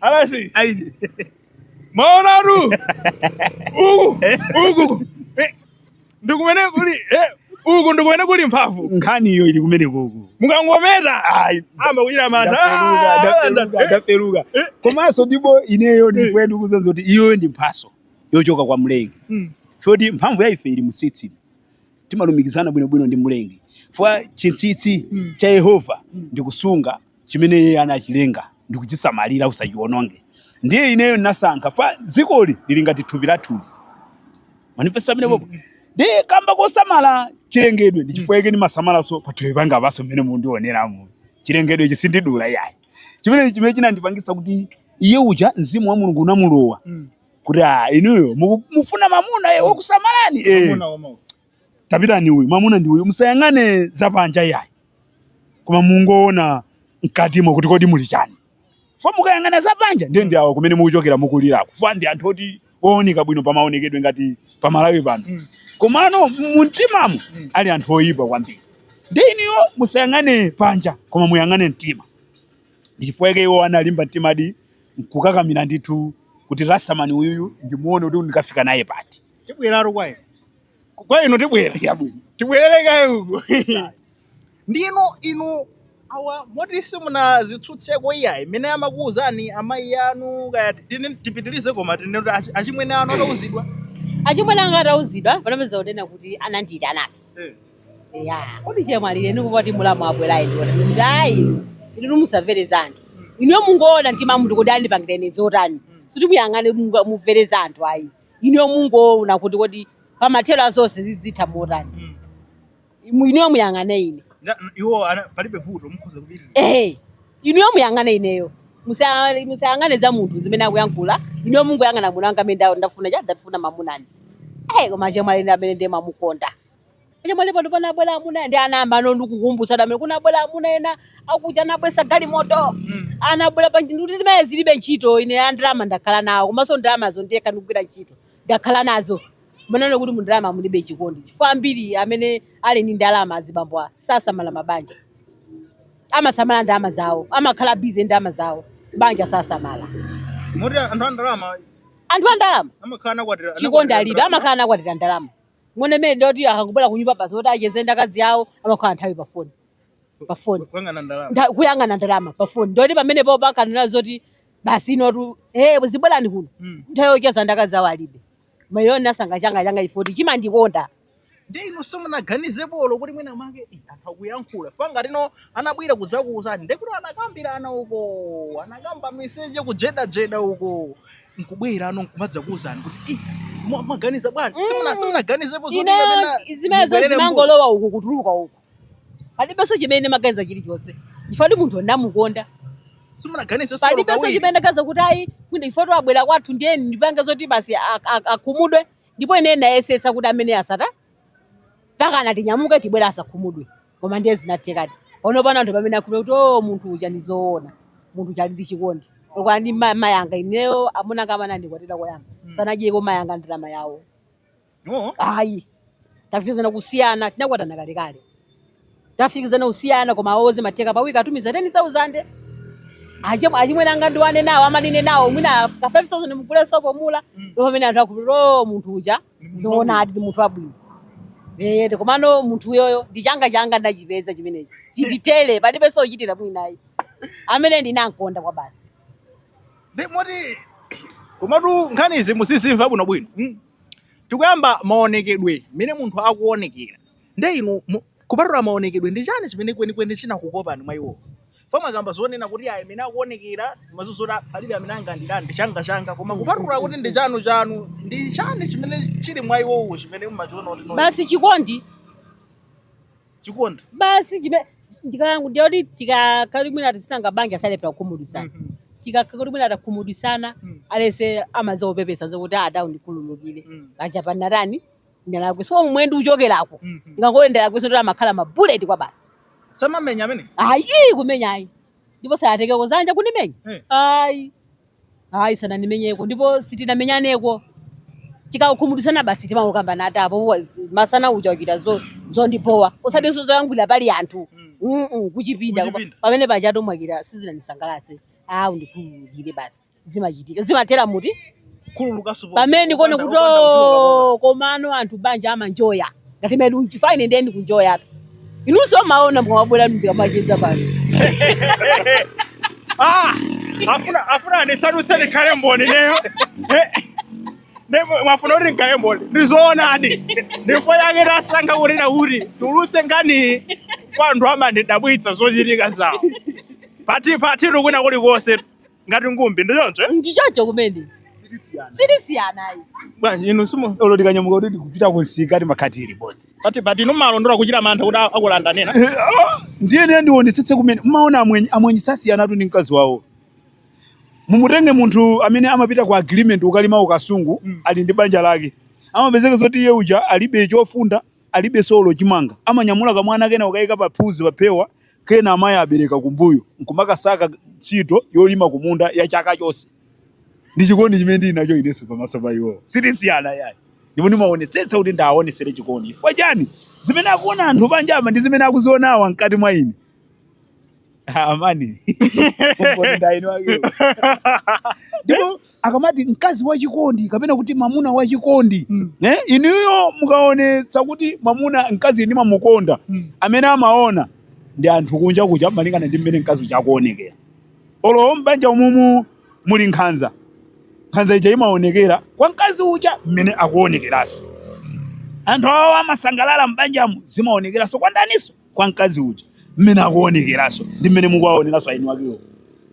S1: Alasi. Ayi. Maona tu. Uku. Uku. Eh, Ndikumene kuli. Eh. Uku ndikumene kuli mphamvu. Nkhani iyo ili kumene
S2: kuku. Mukangometa. Ayi.
S1: Amba kuchita mantha. Ndaperuka, Ah, ndaperuka, nda- eh,
S2: ndaperuka. eh. Komanso ndipo ineyo ndi Eh. fa ndikudziwa kuti iyoyo ndi mphaso yochoka kwa Mlengi. Mm. Moti mphamvu ya ife ili mtsitsi. Timalumikizana bwinobwino ndi Mlengi. Fwa chinsinsi Mm. cha Yehova Mm. ndi kusunga chimene iye anachilenga ndi kuchisamalira usachiwononge ndiye ineyo ndasankha fa dzikoli lili ngati thupi lathu manifesta amene popo ndi kamba kosamala chilengedwe ndi chifukwa yake ndimasamalanso pathupi panga paso mmene mundioneramu chilengedwe ichi sindidula iyayi chimene chimene chinandipangisa kuti iye uja mzimu wa mulungu unamulowa kuti ah inuyo muku- mufuna mamuna eh, wokusamalani eh. tapitani uyu mwamuna ndi uyu musayang'ane zapanja iyayi koma mungoona mkatimo kuti kodi muli chani fa mukayang'ana zapanja ndiye ndi awo kumene mukuchokera mukulirako fa ndi anthu oti ooneka bwino pamaonekedwe ngati pamalawi pano Mm. komano mumtimamu Mm. ali anthu oyipa kwambiri ndiye inuyo musayang'ane panja koma muyang'ane mtima ndi chifukwa chake iwo analimba mtima nkukakamira ndithu kuti rasimani uyuyu ndimuone kuti ndikafika naye pati tibwere
S1: kwa inu kwa inu tibwera chabwino tibwerere kaye uko ndinu inu awa moti simunazitsutseko iyayi mmene amakuwuzani amayi anu kaya tine- tipitirize koma tine kuti achi- achimwene anu atauzidwa achimwene
S3: anga atauzidwa anapezeka kunena kuti anandiitanaso ati kodi chemwali nde kupati mulamu abwera ine ndinati kuti ayi inu musamvere za anthu inuyo mungoona mtima mungoti andipangireni zotani sikuti muyang'ane munga- mumvere za anthu ayi inuyo mungoona kuti kodi pamathero a zonse zidzitha motani Mm. Imu- inuyo muyang'ane ine Na- n- iwo ana-
S1: palibe vuto mukhoza kupita ehe
S3: inuyo muyang'ane ineyo Musa- musayang'ane za munthu zimene akuyankhula inuyo mungoyang'ana mamuna wanga amene nda- ndafuna cha ndafuna mamunani ehe koma chemwali amene ndiye mamukonda chemwali pano panabwera amuna ndi anayamba ndikukumbutsa pamene kunabwera amuna ena akuja anabweretsa galimoto anabwera ndiye ndinati zimenezo zilibe ntchito ine a ndalama ndakhala nawo komanso ndalamazo ndekha ndikugwira ntchito ndakhala nazo kunena kuti mu ndalama mulibe chikondi chifukwa ambiri amene ali ndi ndalama azibambo a sasamala mabanja amasamala ndalama zawo amakhala bize ndalama zawo banja sasamala moti
S1: anthu a ndalama anthu a ndalama amakhala
S3: anakwatira chikondi alibe amakhala anakwatira ndalama muone mmene ndoti akangobwera kunyumba basi kuti acheze ndi akazi awo amakhala nthawi pa foni pa foni kuyang'ana ndalama Ntha- kuyang'ana ndalama pa foni ndoti pamenepo pakanena zoti basi inotu eh zibwerani kuno Mm. nthawi yocheza ndi akazi awo alibe mayo ndinasankha changa changa chifoti chimandikonda ndi
S1: inu simunaganizepo kuti mwina make "Eh, anthu akuyankhula chifukwa ngati anabwera kudzakuuzani ndekuti anakambirana uko anakamba miseche kujedajeda uko nkubwerano nkumadzakuuzani kuti "Ih, mwa- mwaganiza bwanji Mm. simuna simunaganizepo zoti ineyo kapena
S3: zimenezo mubwerere mbuyo." zimangolowa uku kutuluka uku palibenso chimene nimaganiza chilichonse chifukwa munthu ndamukonda simunaganizepo palibenso chimene ndaganiza kuti ayi kuti chifukwa choti abwera kwathu ndiye ndipange zoti basi a- a- akhumudwe ndipo ine ndayesesa kuti amene asata mpakana tinyamuke tibwera asakhumudwe koma ndiye zinathekadi ono pano anthu pamene akhulupira kuti o munthu uja ndi zoona munthu uja ali ndi chikondi chokwana ndi ma- mayanga ineyo amuna anga amene andikwatira koyamba Mm. sanadyeko mayanga ndalama yawo Oh. ayi tafikizana kusiyana tinakwatana kalekale tafikizana kusiyana koma awo zimatheka pawiki atumiza 10000 achimwe achimwene anga ndiwane nawo amanine nawo mwina ka 5000 mugule sopo mula Mm. ndipo pamene anthu akhulupira o munthu uja zoonadi ndi munthu wabwino Eh, ndi komano munthu uyoyo ndi changa changa ndachipeza chimenechi chinditele palibenso kuchitira mwina ayi amene ndinamkonda kwabasi Ndi
S1: moti komatu nkhani izi muzizimva bwinobwino mm. tikuyamba maonekedwe mmene munthu akuonekera nde inu mu- Kupatula maonekedwe, ndi chani chimene kwenikweni chinakukopani mwa iwowo? Chifukwa mwakamba zonena kuti ayi mmene akuonekera komanso zoti palibe amene angandilande changa changa koma kupatula kuti ndi chanu chanu ndi chani chimene chili mwa iwowo chimene mumachiona kuti no basi chikondi
S3: chikondi basi chimene ndikalangu ndiye kuti tikakali mwina tisanga banja salephera kukhumudwisana Mhm. tikakali mwina atakhumudwisana Mm. alese amaza kupepesa zokuti ada undikhululukire Mm. paja panatani ndalakwisa mwe ndi uchokeraku Mhm. ngangole ndalakwi zoti amakhala mabuleti kwabasi samamenya
S1: amene ayi kumenya
S3: ayi ndipo sayateke kuzanja kunimenya Eh. ayi ayi sananimenyeko ndipo sitinamenyaneko tikakhumudisana basi timangokambana ati apo wa- masana uja wachita zo- zondibowa osatinso zoyankhulira pali anthu Mm. Mm-mm, kuchipinda Kuchipinda. pamene pajatu mwachita sizinanisangalatse a undikhululukire basi zimachitika zimathera muti Khululukanso po- pamene ndikuone popanda- kuti popanda kuziwa kakonda. "Oh, komano anthu banja amanjoya ngati mene unchifaine nde nikunjoyatu inunso mumaona mukamabwera ndikamacheza pano Ah,
S1: afuna afuna ndisadutse ndikhale mboni ineyo Eh, ne- mwafuna kuti ndikhale mboni ndizoonadi ndi chifukwa chake tasankha kuti kuti tulutse nkhani chifukwa anthu amandidabwitsa zochitika zawo pati pati kwina kulikonse ngati ngumbi ndi choncho eh? ndi choncho
S3: kumene sitisiyana ayi bwanji inu
S1: simu olo tikanyamuka kuti
S2: tikupita kunsika timakhala tili limodzi pati pati mumalondola
S1: kuchita mantha kuti a- akulanda nena ndiye ndiye
S2: ndionetsetse kumene mmaona amwenye amwenye sasiyanatu ndi mkazi wawo mumutenge munthu amene amapita ku agreement kukalima ku Kasungu Mm. ali ndi banja lake amapezeka zoti iye uja alibe chofunda alibe solo chimanga amanyamula kamwana kena nkukayika pa phuzi paphewa Kena amayi abereka kumbuyo nkumakasaka ntchito yolima kumunda ya chaka chonse. Ndi chikondi chimene ndili nacho inenso pamaso pa iwowa, sitisiyana iyayi. Ndipo ndimaonetsetsa kuti ndiwaonetsere chikondi. Chifukwa chiyani? Zimene akuona anthu panja apa ndi zimene akuziona awawa mkati mwa ine. Amayi. Umboni ndi aeni wakewo. Ndipo akamati mkazi wachikondi kapena kuti mwamuna wachikondi Mm. nde inuyo mukaonetsa kuti mwamuna mkazi ndimamukonda Mm. amene amaona ndi anthu kunja kuja malingana ndi mmene mkazi uja akuonekera olo mbanja umumu muli nkhanza nkhanza ija imaonekera kwa mkazi uja mmene akuonekeranso anthu awo amasangalala mbanjamu zimaonekeranso kwa ndaniso kwa mkazi uja mmene akuonekeraso ndi mmene mukuwaoneraso aeni wakewo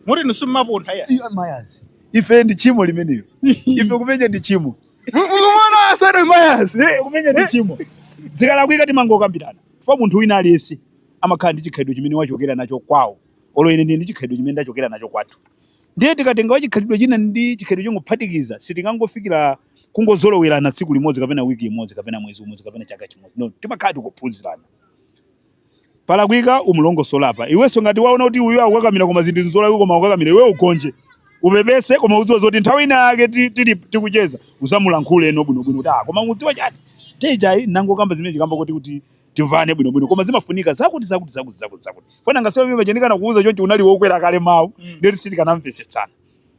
S2: moti
S1: inu simmapuntha iyayi Iwe mayazi
S2: ife ndi chimo limenelo ife kumenya ndi chimo
S1: mwamuna usana mayazi ife kumenya ndi chimo
S2: zikalakwika timangokambirana fa munthu wina aliyense amakhala ndi chikhalidwe chimene wachokera nacho kwawo olo ine ndili ndi chikhalidwe chimene ndachokera nacho kwathu ndiye tikatenga wachikhalidwe china ndi chikhalidwe nkungophatikiza sitingangofikira kungozolowerana tsiku limodzi kapena wiki imodzi kapena mwezi umodzi kapena chaka chimodzi no timakhala tikuphunzirana palakwika umulongosole apa iwenso ngati waona kuti uyu akukakamira koma zinthu nzolakwika koma akukakamira iwe ugonje upepese koma udziwe zoti nthawi ina yake ti- tili tikucheza uzamulankhule eno bwinobwino kuti ah koma mudziwa chati nthawi ijayi nnangokamba zimene zija kamba kuti kuti timvane bwinobwino koma zimafunika zakuti zakuti zakuti zakuti zakuti fana nthawi imene ija ndikanakuuza chonchi unali wokwera kale mawu Mm. nde kuti sitikanamvetsetsana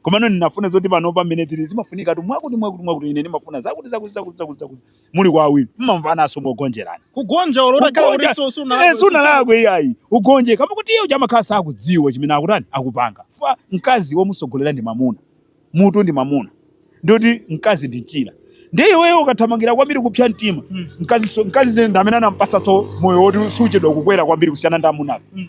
S2: koma nawonu ndinafuna zoti panopa mmene tili zimafunika tu mwakuti mwakuti mwakuti ine ndimafuna zakuti zakuti zakuti zakuti zakuti muli kwa awiri mmamvananso mogonjerana kugonja olo
S1: utakhala kuti Kugonja. so- sunalakwe, Eh, sunalakwe
S2: iyayi ugonje kamba kuti iye uja amakhala sakudziwa chimene akutani akupanga fa mkazi womusogolera ndi mamuna mutu ndi mamuna ndikuti mkazi ndi mchira ndiye iweyo ukathamangira kwambiri kupsa mtima Mm. mkazi so- mkazi ndi amene anampatsanso moyo woti suchedwa kukwera kwambiri kusiyana ndi amunafe Mm.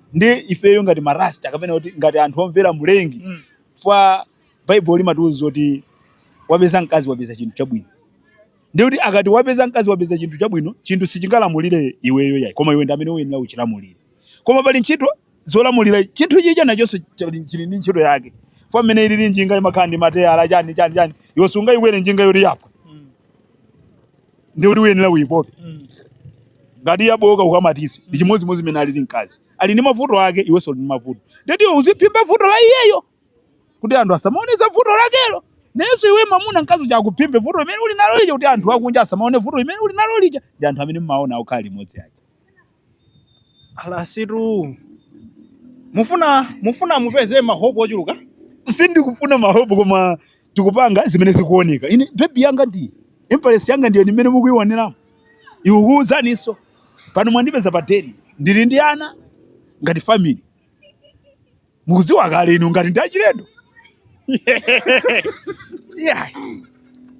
S2: nde ifeyo ngati marasta kapena kuti ngati anthu omvera mlengi mm. chifukwa baibulo limatiuza kuti wapeza mkazi wapeza chinthu chabwino nde kuti akati wapeza mkazi wapeza chinthu chabwino chinthu sichingalamulire iweyo yayi koma iwe ndi amene uyenera uchilamulire koma pali ntchito zolamulira chinthu chija nachonso chili chili ndi ntchito yake fa mmene ilili njinga imakhala ndi mateyala chani chani chani iwe sungayikwere njinga yoti yaphwa ndiye kuti uyenera uyipope Mm. ngati yabooka ukamatitse ndi chimodzimodzi mmene alili mkazi ali ndi mavuto ake iwenso uli ndi mavuto ndeti iwe uziphimba vuto la iyeyo kuti anthu asamaone za vuto lakelo nenso iwe mamuna mkazi uja akuphimbe vuto limene uli nalo lija kuti anthu akunja asamaone vuto limene uli nalo lija ndi anthu amene mmaona okhala limodzi aja a
S1: Rasitu mufuna mufuna mupeze mahopu ochuluka sindikufuna
S2: mahopu koma tikupanga zimene zikuoneka ine bebi yanga ndi empress yanga ndiyo ndi mmene mukuiwoneramu ikuwuzaninso pano mwandipeza pa deni ndili ndi ana ngati family mukudziwa kale inu ngati ndi achilendo yeah.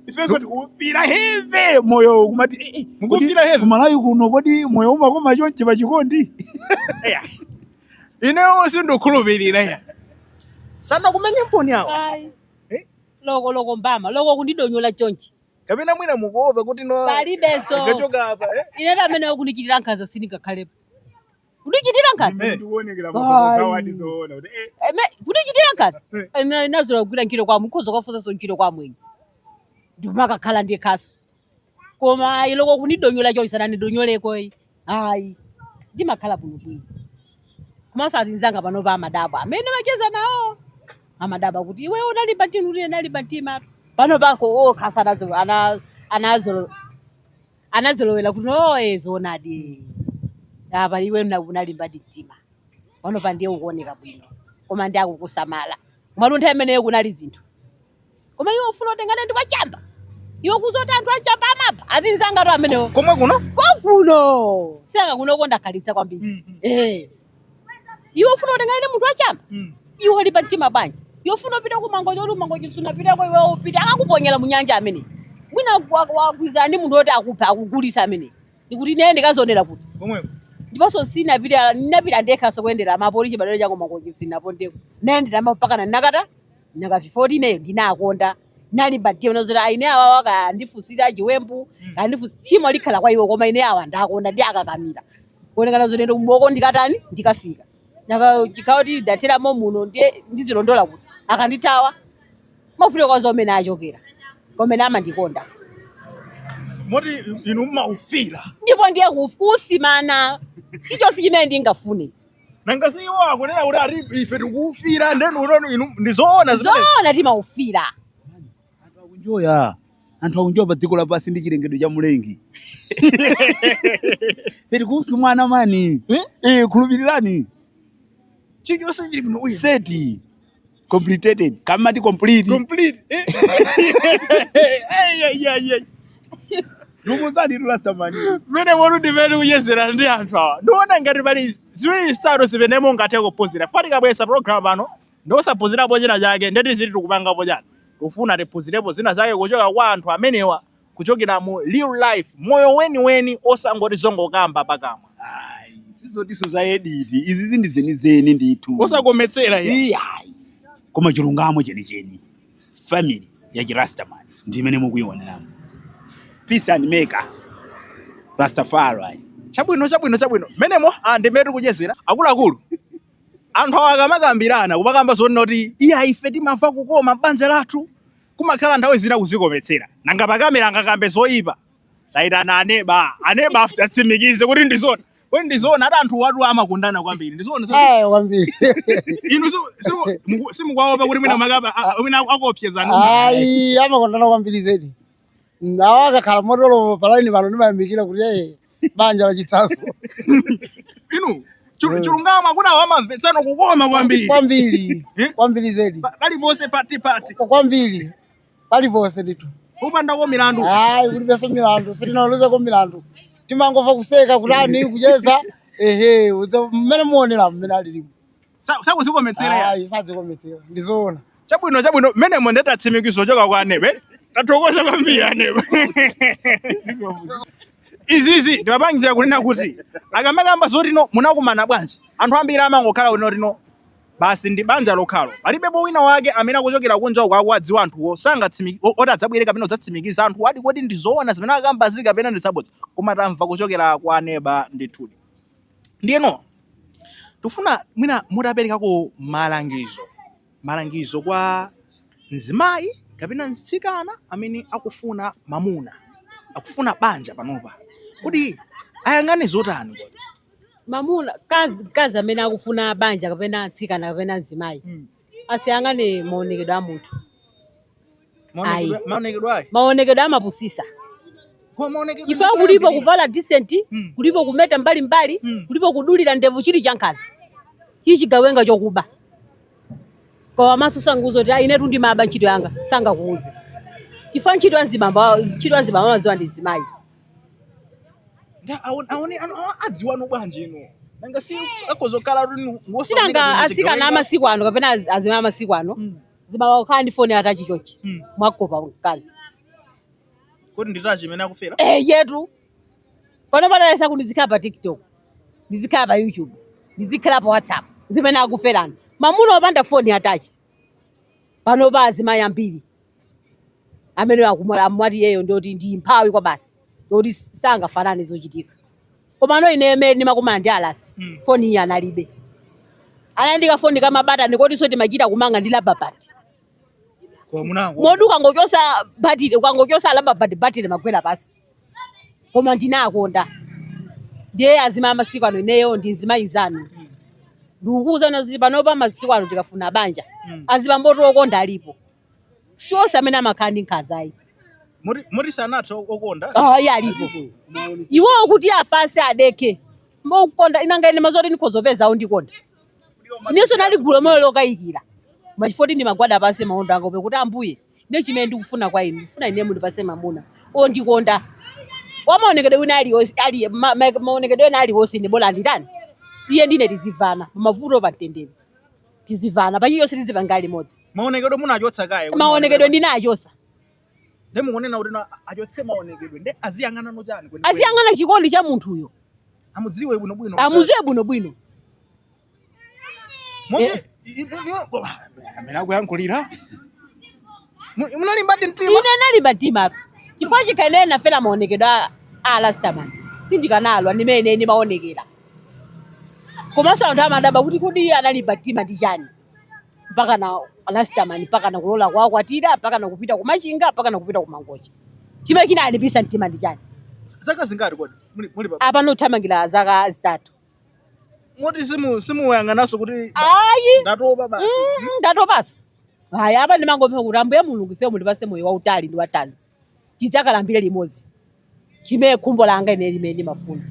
S2: ifenso tikuwufira heve moyo kumati eh, eh, Mukuwufira kodi heve? kumalawi
S1: kuno kodi
S2: moyo umakoma chonchi pa chikondi
S1: Eya. inewo sindikhulupirira ya sanakumenyemponi awo Ayi.
S3: Eh? loko loko mbama loko kundidonyola chonchi kapena mwina
S1: mukuopa kuti no palibenso akachoka
S3: apa eh?
S1: ine amene akundichitira
S3: nkhanza sindingakhalepo kundichitira nkhanza Ine ndikuonekera kwa Ai. kuthawa
S2: ati zoona kuti eh Eme-
S3: kundichitira nkhanza Eh. Eme nazola kugwira ntchito kwa mukhoza kwafunsanso ntchito kwa mwenye ndimakakhala ndi khasu koma ayi loko kunidonyola chonchi sananidonyoleko yi ayi ndimakhala bwino bwino komanso azinzanga pano pa amadabwa amene macheza nawo amadabwa kuti iwe unalimba mtima kuti unalimba mtima pano pako okha sanazo ana anazolo anazolowera kuti oye zoonadi apa iwe mna- unalimbadi mtima pano pa ndiye ukuoneka bwino koma ndi akukusamala mwaluntha imeneyo kunali zinthu koma iwe ufuna utengane ndi wachamba iwe kuzoti anthu achamba amapha azinzangatu amenewo komwe kuno kwakuno sinanga kunoko ndakhalitsa kwambiri eh iwe ufuna utengane ndi munthu wachamba Mm. iwe ulimba mtima bwanji iwe ufuna upite ku Mangochi oti ku Mangochi sunapiteko iwe upite akakuponyera munyanja ameneyi mwina wagwirizana ndi munthu woti akuphe akugulitse ameneyi ndikuti naye ndikazionera kuti Komweko.
S1: ndiponso
S3: sinapita ndinapita ndekhanso kuyendera mapolisi badala cha ku Mangochi sinapondeko nayendera mpakana nakata nanga si poti ineyo ndinakonda nalimba mtima nazoti aine awawa kaya andifusira chiwembu kaya ndifu- tchimo likhala kwa iwo koma ine awa ndakonda ndiwakakamira kuoneka nazoti ndi kumoko ndikatani ndikafika nanga chikhawo ti ndateramo muno ndiye ndizilondola kuti akandithawa mafuta kwazo amene achokera koma ine
S1: amandikonda moti inu mmaufira ndipo ndiye kuf-
S3: kusumana chilichonse chimene ndingafune nanga si
S1: iwo akunena kuti ati ife tikuwufira ndeni unoni inu ndizoona zimene zoona timaufira
S3: anthu akunjoya
S2: anthu akunjoya pa dziko lapansi ndi chilengedwe cha mulengi ife tikuwusumana mani Eh? eh,
S1: khulupirirani
S2: chilichonse
S1: chili bwino uyu
S2: seti Complicated. Kamati complete.
S1: Complete. Eh, eh, eh, eh.
S2: Ndikuzani tulasamani. Mmenemo ndi
S1: mmene tikuchezera ndi anthu awa. Ndiona ngati pali ziwiri zitatu zimene mungathe kuphunzira. Paja tikabweretsa program pano n'kusaphunzirapo china chake nde kuti ziti tikupangapo chani. Tikufuna tiphunzirepo zina zake kuchoka kwa anthu amenewa. kuchokera mu real life moyo weniweni osangoti zongokamba pakamwa
S2: Ayi, sizotinso za edit izi ndi zenizeni ndithu osakometsera
S1: iyayi
S2: koma chilungamo chenicheni family ya chirastaman ndi imene mukuyionerayo peace and maker rastafari
S1: chabwino chabwino chabwino mmenemo ndi mmene tikuchezera akuluakulu anthu awa akamakambirana kumakamba zonena kuti iya ife timamva kukoma m'banja lathu Kumakhala nthawi zina kuzikometsera. Nanga pa camera angakambe zoipa? Taitana aneba. Aneba aft- atsimikize kuti ndi zona. Kodi ndi zona? Ati anthu awatu amakondana kwambiri. Ndi zona. Eh, kwambiri. Inu simu- simu- muku- simukuwaopa kuti mwina makaba a- a- mwina akuopsezani. Ayi,
S4: amakondana kwambiri zedi. Nawo akakhala motolo palaini pano ndimayamikira kuti eh, banja la chitsanzo
S1: inu chilu- Mm. chilungamo akuti awa amamvetsana kukoma kwambiri kwambiri Eh? kwambiri
S4: zedi Pa- paliponse pati
S1: pati kwambiri
S4: paliponse ndithu kupandako
S1: milandu ayi kulibenso
S4: milandu sitinalozeko milandu timangomva kuseka kutani kucheza ehe udza- mmene muonera mmene alilimo Sa- sakuzikometsera
S1: iyayi
S4: sadzikometsera ndizoona chabwino chabwino
S1: mmenemo nde tatsimikiza kuchoka kwa aneba tathokoza kwambiri aneba izizi ndimapangira kunena kuti akamakamba zoti no munakumana bwanji anthu ambiri amangokhala kuti noti no basi ndi banja lokhalo palibepo wina wake amene akuchokera kunja uko akuwadziwa anthuwo sangatsimi- o- oti adzabwere kapena kudzatsimikiza anthu awadi kodi ndi zoona zimene akukambazi kapena ndi zabodza koma tamva kuchokera kwa aneba ndithudi ndiyeno Tikufuna mwina mutaperekako malangizo, malangizo kwa mzimayi kapena mtsikana amene akufuna mamuna, akufuna banja panopa, kodi ayang'ane zotani? Mamuna,
S3: mkazi, mkazi amene akufuna banja kapena mtsikana kapena mzimayi. asayang'ane maonekedwe a munthu Maonekedwe- Ayi. maonekedwe ayi maonekedwe amapusisa chifukwa kulipo kuvala decent Mm. kulipo kumeta mbali mbali Mm. kulipo kudulira ndevu chili chankhaza chili chigawenga chokuba kwa maso sangauze kuti ayi inetu ndimaba ntchito yanga sangakuuze chifukwa ntchito ya mzibambo ntchito ya azibambo amaziwa ndi mzimayi
S1: Nda- aone- aone- ano- awa- adziwano bwanji ino nanga si akudzakhala rinu si nanga asikana
S3: amasiku ano kapena az- azimai amasiku ano zimaukhala ndi foni ya touch chonchi mwakopa mkazi
S1: kodi ndi touch imene akufera Eh, eyetu
S3: pano padaresa kuti ndizikhala pa tiktok ndizikhala pa youtube ndizikhala pa whatsapp zimene akufera, mamuna opanda foni ya touch Panopa azimayi ambiri amene akumwa- amati iyeyo ndioti ndi mphawi kwabasi ndoti sangafanane zochitika komano ine mmene ndimakumana ndi a Rasi Mm. foni iyi analibe anali ndi kafoni ka mabatani kotinso timachita kumanga ndi rubber band Kwa
S1: munango. moti ukangochosa
S3: batire ukangochosa rubber band batire imagwera pansi koma ndinawakonda ndiye azimai amasiku ano ineyo ndi mzimayi nzanu ndikukuuzani kuti panopa masiku ano tikafuna banja Mm. azibambotu okonda alipo si onse amene amakhala ndi nkhaza ayi Muri
S1: muri sanatha okonda. Ah, iyee
S3: alipo iwowo kuti afatse adekhe mokonda si nanga ine zoti ndikhoza kupeza wondikonda inenso nali ndi moyo lokayikira ma chifoti ndimagwada pansi maondo anga kupempha kuti ambuye Ndiye chimene ndikufuna kwa inu, ndifuna ine mundipatse mamuna ondikonda wamaonekedwe wina aliyonse ali ma- ma- maonekedwe ena aliwonse ine bola nditani iye ndi ine tizivana pamavuto pa mtendere tizivana pa chilichonse tizipanga limodzi maonekedwe
S1: munachotsa kaye kuti maonekedwe ndinachosa nde mukunena kuti na- achotse maonekedwe nde aziyang'ana no chani aziyang'ana chikondi cha
S3: munthuyo amudziwe
S1: bwinobwino amuziwe bwinobwino
S3: Mumve- i-
S1: i- i- koma, amene akuyankhulila Mu- munalimbadi mtima ine nalimba mtima
S3: chifukwa chikhala ine nafera maonekedwe a- a Rastaman sindikanalola ndi mmene ine maonekera komanso anthu amadabwa kuti kodi iye analimba mtima ndi chani mpakana a Rastaman mpakana kulola kuwakwatira mpakana kupita ku Machinga mpakana kupita ku Mangochi chimene chinalimbisa mtima ndi chani zaka zingati
S1: kodi muli muli pa apano tikuthamangira zaka
S3: zitatu
S1: moti simu simuyang'ananso kuti ayi
S3: ndatopa
S1: basi mm,
S3: ndatopaso ayi apa ndimangopempha kuti ambuye mulungu ife mundipase moyo wautali ndi wathanzi tidzakalambire limodzi chimene khumbo langa ine limene ndimafuna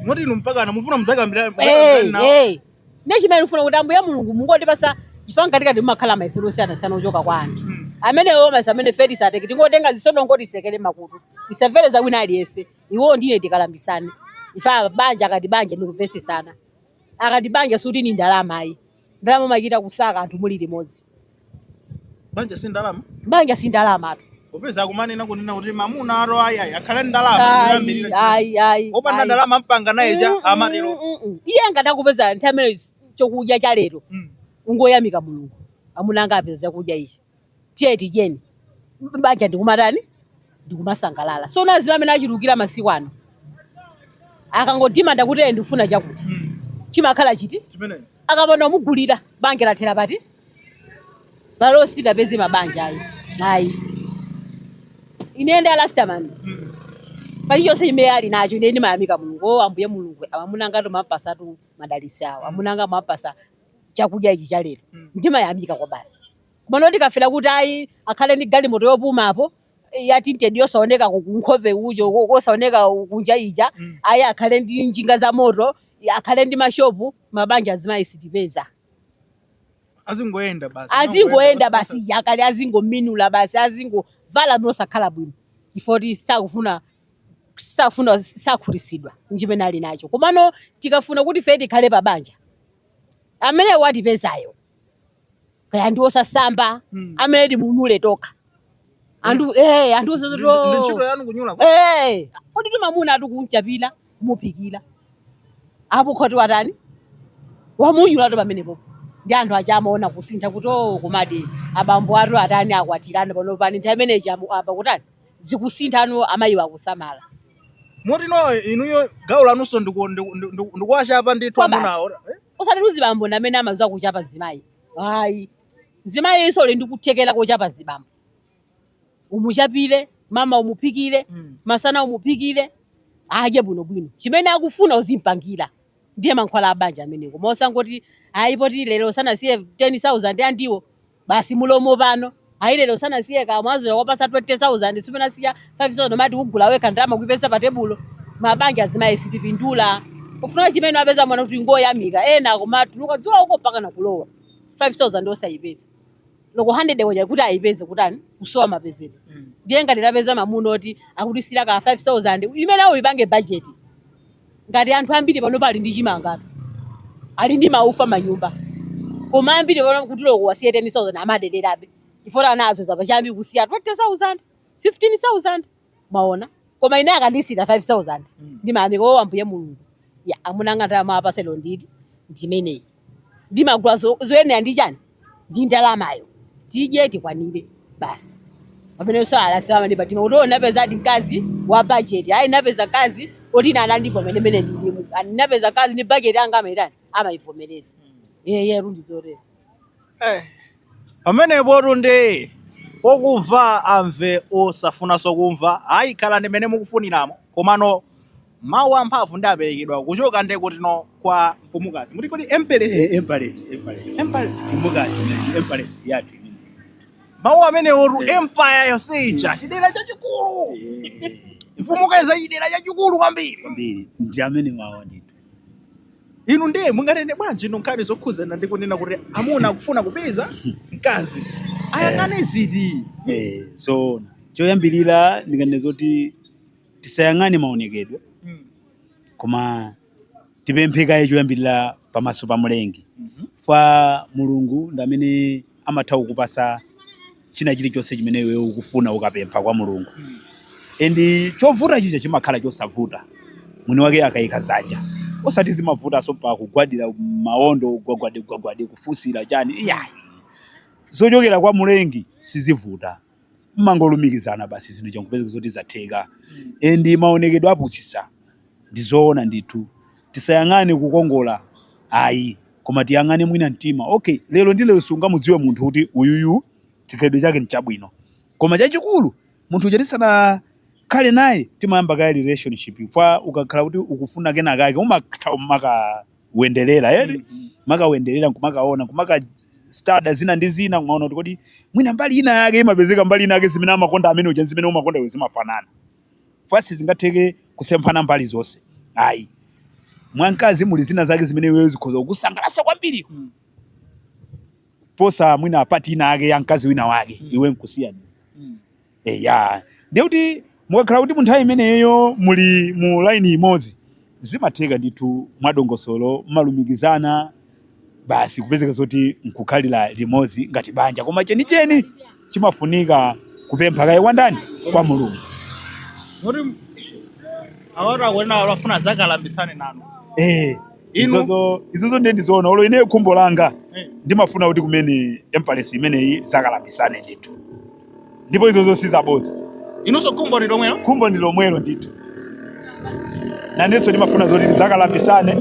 S3: moti inu
S1: mpakana
S3: mufuna
S1: mudzakalambire
S3: Hey, hey. nde chimene
S1: ndifuna kuti
S3: ambuye
S1: mulungu
S3: mungotipasa chifukwa mkatikati mumakhala mayesero osiyanasiyana ochoka kwa anthu amenewo Maso amene ife tisatekeseke tingotenga zitsotso titsekere makutu tisamvere za wina aliyense iwo ndi ine tikalambisane ife banja akati banja ndi kuvesesana akati banja sikuti ndi ndalama ayi ndalama umachita kusaka anthu muli limodzi
S1: banja si ndalama banja si
S3: ndalamatu popeza akumanena
S1: kunena kuti mamuna ato ayayi akhale ndi ndalama ayi ndiyambirira. ayi
S3: ayi opanda ayi. ndalama
S1: mpanga naye chani Mm, mm, amatero mm, mm. iye angathe
S3: kupeza nthawi imene chokudya cha lero Mm. ungoyamika mulungu amuna anga apeza chakudya ichi tiye tidyeni M- banja ndikumatani ndikumasangalala so nazimayi amene achulukira masiku ano akangodimanda kuti eye ndikufuna chakuti chimakhala chiti akapanda kumugulira banja lathera pati palo sitingapeze mabanja ayi ayi ine ndi a last man pachilichonse chimene ali nacho ine ndimayamika mulungu o ambuye mulungu amuna anga mwapatsatu madalitso awo amuna anga mwapatsa chakudya ichi cha lero ndimayamika kwa basi koma no tikafera kuti ayi akhale ndi galimoto yopumapo eh, ya tinted yosaoneka ku- kunkhope ujo ko- kosaoneka kunja ija Mm. ayi akhale ndi njinga za moto eh, akhale ndi mashopu mabanja azimayi sitipeza azingoyenda basi azingoyenda basi yakale azingominula basi azingovala mosakhala bwino chifoti sakufuna sakufuna sakhutitsidwa nchimene ali nacho komano tikafuna kuti ife tikhale pa banja amene watipezayo kaya ndi osasamba Mm. amene timunyule tokha anthu eh anthu Ndi- ndi ntchito
S1: usazoto yanu kunyula kwa- eh
S3: kodi mamuna ati kumchapira kumuphikira apo nkuti watani wamunyulatu pamenepo ndi anthu aja amaona kusintha kuti o kumati abambo atu atani akwatirana pano pani nthawi imeneyi amu- apa kutani zikusintha anu amayiwo akusamala moti
S1: ndiye inuyo gawo lanunso ndiku- ndiku- ndiku- ndikuwachapa ndithu Kwa basi. amunawo Eh? osati kuti
S3: mzibambo ndi amene amaziwa kuchapa mzimayi ayi mzimayinso uli ndi kuthekera kochapa mzibambo umuchapire mmawa umuphikire Mm. masana umuphikire adye bwinobwino chimene akufuna uzimpangira ndiye mankhwala a banja amenewo koma osangoti ayi poti lero sanasiye 10000 andiwo basi mulomo pano ayi lero sanasiye kamwazo wapatsa 20000 ine asiya 5000 mmati kugula wekha ndalama kuipeza pa tebulo mabanja azimayi sitipindula pofuna chimene apeza mamuna kungoyamika ena akumatuluka dzuwa uko mpaka nakulowa 5000 osayipeza loko 100 kwacha kuti ayipeze kutani kusowa mapezedwe ndiye ngati tapeza mamuna oti akutisiira ka 5000 imene uyipange bajeti ngati anthu ambiri panopa ali ndi chimanga ali ndi maufa mmanyumba koma ambiri pano kuti loko wasiye 10000 amadererabe chifukwa anazolowera pachiyambi kusiya 20000 15000 maona koma ine akandisiira 5000 ndimayamika wo ambuye mulungu ya amuna anga ndalama mwapatsa lero ndi ndimeneyi ndimagula zo- zoyenera ndi chani ndi ndalamayo tidye tikwanire basi pamene so a last man pamtima kuti unapeza ndi mkazi wa budget ayi napeza mkazi oti anandivomera mmene ndilili napeza mkazi ndi budget anga amaitani amaivomereza yeye rundi zotero Eh,
S1: Pamenepotu nde okumva amve osafunaso kumva ayi khalani mene mukufuniramo komano mawu amphamvu ndi aperekedwa kuchoka nde kutino kwa mfumukazi muti kodi Empress Eh,
S2: Empress, Empress. Empire. Mfumukazi, eh, Empress yake.
S1: mawu amenewotu Eh. empire yonse ija chidera chachikulu Eh, mfumukazi ya chidera chachikulu kwambiri kwambiri ndi amene wawa
S2: ndithu inu
S1: ndiye munganene bwanji inu nkhani zokhudzana ndi kunena kuti amuna akufuna kupeza mkazi ayang'ane ziti Eh, so
S2: choyambirira ndinganene zoti tisayang'ane maonekedwe Mm. koma tipemphe kaye choyambirira pamaso pa mlengi Mhm. kwa mulungu ndi amene amatha kukupasa china chilichonse chimene iwe ukufuna ukapempha kwa mulungu and chovuta chija chimakhala chosavuta mwini wake akayika dzanja osati zimavutanso paka kugwadira maondo gwagwade gwagwade kufunsira chani iyayi zochokera kwa mulengi sizivuta mmangolumikizana basi zinthu changopezeka zoti zatheka and maonekedwe apusisa Ndi zoona ndithu. Tisayang'ane kukongola ayi koma tiyang'ane mwina mtima. Ok lero ndi lero sungamudziwe munthu kuti uyuyu chikhalidwe chake nchabwino. Koma chachikulu munthu uja tisanakhale naye timayamba kaye relationship chifukwa ukakhala kuti ukufuna kenakake umatha kumakawenderera eti. Kumakawenderera nkumakaona nkumaka study zina ndi zina kumaona kuti kodi mwina mbali inayake imapezeka mbali inayake zimene amakonda amene uja ndi zimene umakonda iwe zimafanana. chifukwa sizingatheke kusemphana mbali zonse ayi mwa mkazi muli zina zake zimene iweyo zikhoza kukusangalatsa kwambiri Mm. posa mwina part ina yake ya mkazi wina wake Mm. iwe nkusiyanisa Mm. eya ndiye kuti mukakhala kuti munthawi imeneyo muli mu laini imodzi zimatheka ndithu mwadongosolo mmalumikizana basi kupezeka zoti nkukhalira limodzi ngati banja koma chenicheni chimafunika kupempha kaye kwa ndani kwa mulungu Moti
S1: awatu akunena amafuna azakalambitsane nanu. Eh, Inu-
S2: izozo izozo ndiye ndizoona olo ine khumbo langa Eh. ndimafuna kuti kumene Empress imeneyi tizakalambisane ndithu ndipo izozo sizabodza inunso
S1: khumbo ndi lomwelo khumbo ndi lomwelo
S2: ndithu nanenso ndimafuna zoti tizakalambisane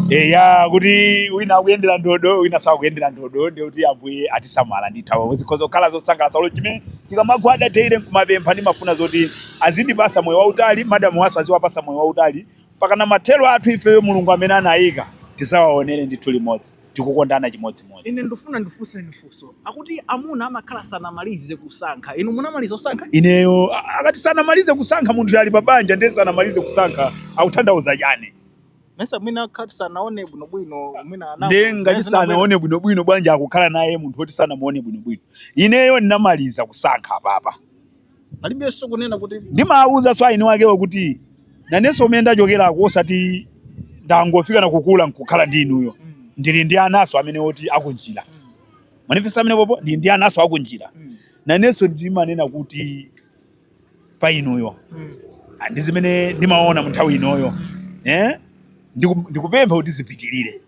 S2: eya kuti wina akuyendera ndodo winanso akuyendera ndodo ndiye kuti ambuye atisamala ndithu zikhoza kukhala zosangalatsa olo chimene ndikamagwada tere nkumapempha ndimafuna zoti azindipasa moyo wautali madamuwa nso aziwapasa moyo wautali pakana mathero athu ifeyo mulungu amene anayika tizawaonere ndithu limodzi tikukondana chimodzimodzi. Ine ndifuna
S1: ndifunseni funso. Akuti amuna amakhala sanamalize kusankha. Inu munamaliza kusankha? Ineyo a- akati
S2: sanamalize kusankha munthu ali pa banja ndiye sanamalize kusankha akutanthauza chani? Mesa
S1: mwina akhati sanaone bwinobwino mwina ana. Ndiye ngati
S2: sanaone bwinobwino bwanji akukhala naye munthu woti sanamuone bwinobwino. Ineyo ndinamaliza kusankha apapa.
S1: palibenso kunena kuti ndimaawuzanso
S2: aini akewo kuti nanenso kumene ndachokerako osati ndangofika nakukula nkukhala ndi inuyo mm. ndili ndi anaso amene oti akunjira mm. manifesto amene popo ndili ndi anaso akunjira mm. nanenso ndimanena kuti pa inuyo mm. Ah, ndi zimene ndimaona mu nthawi inoyo mm. eh? ndikupempha kuti zipitirire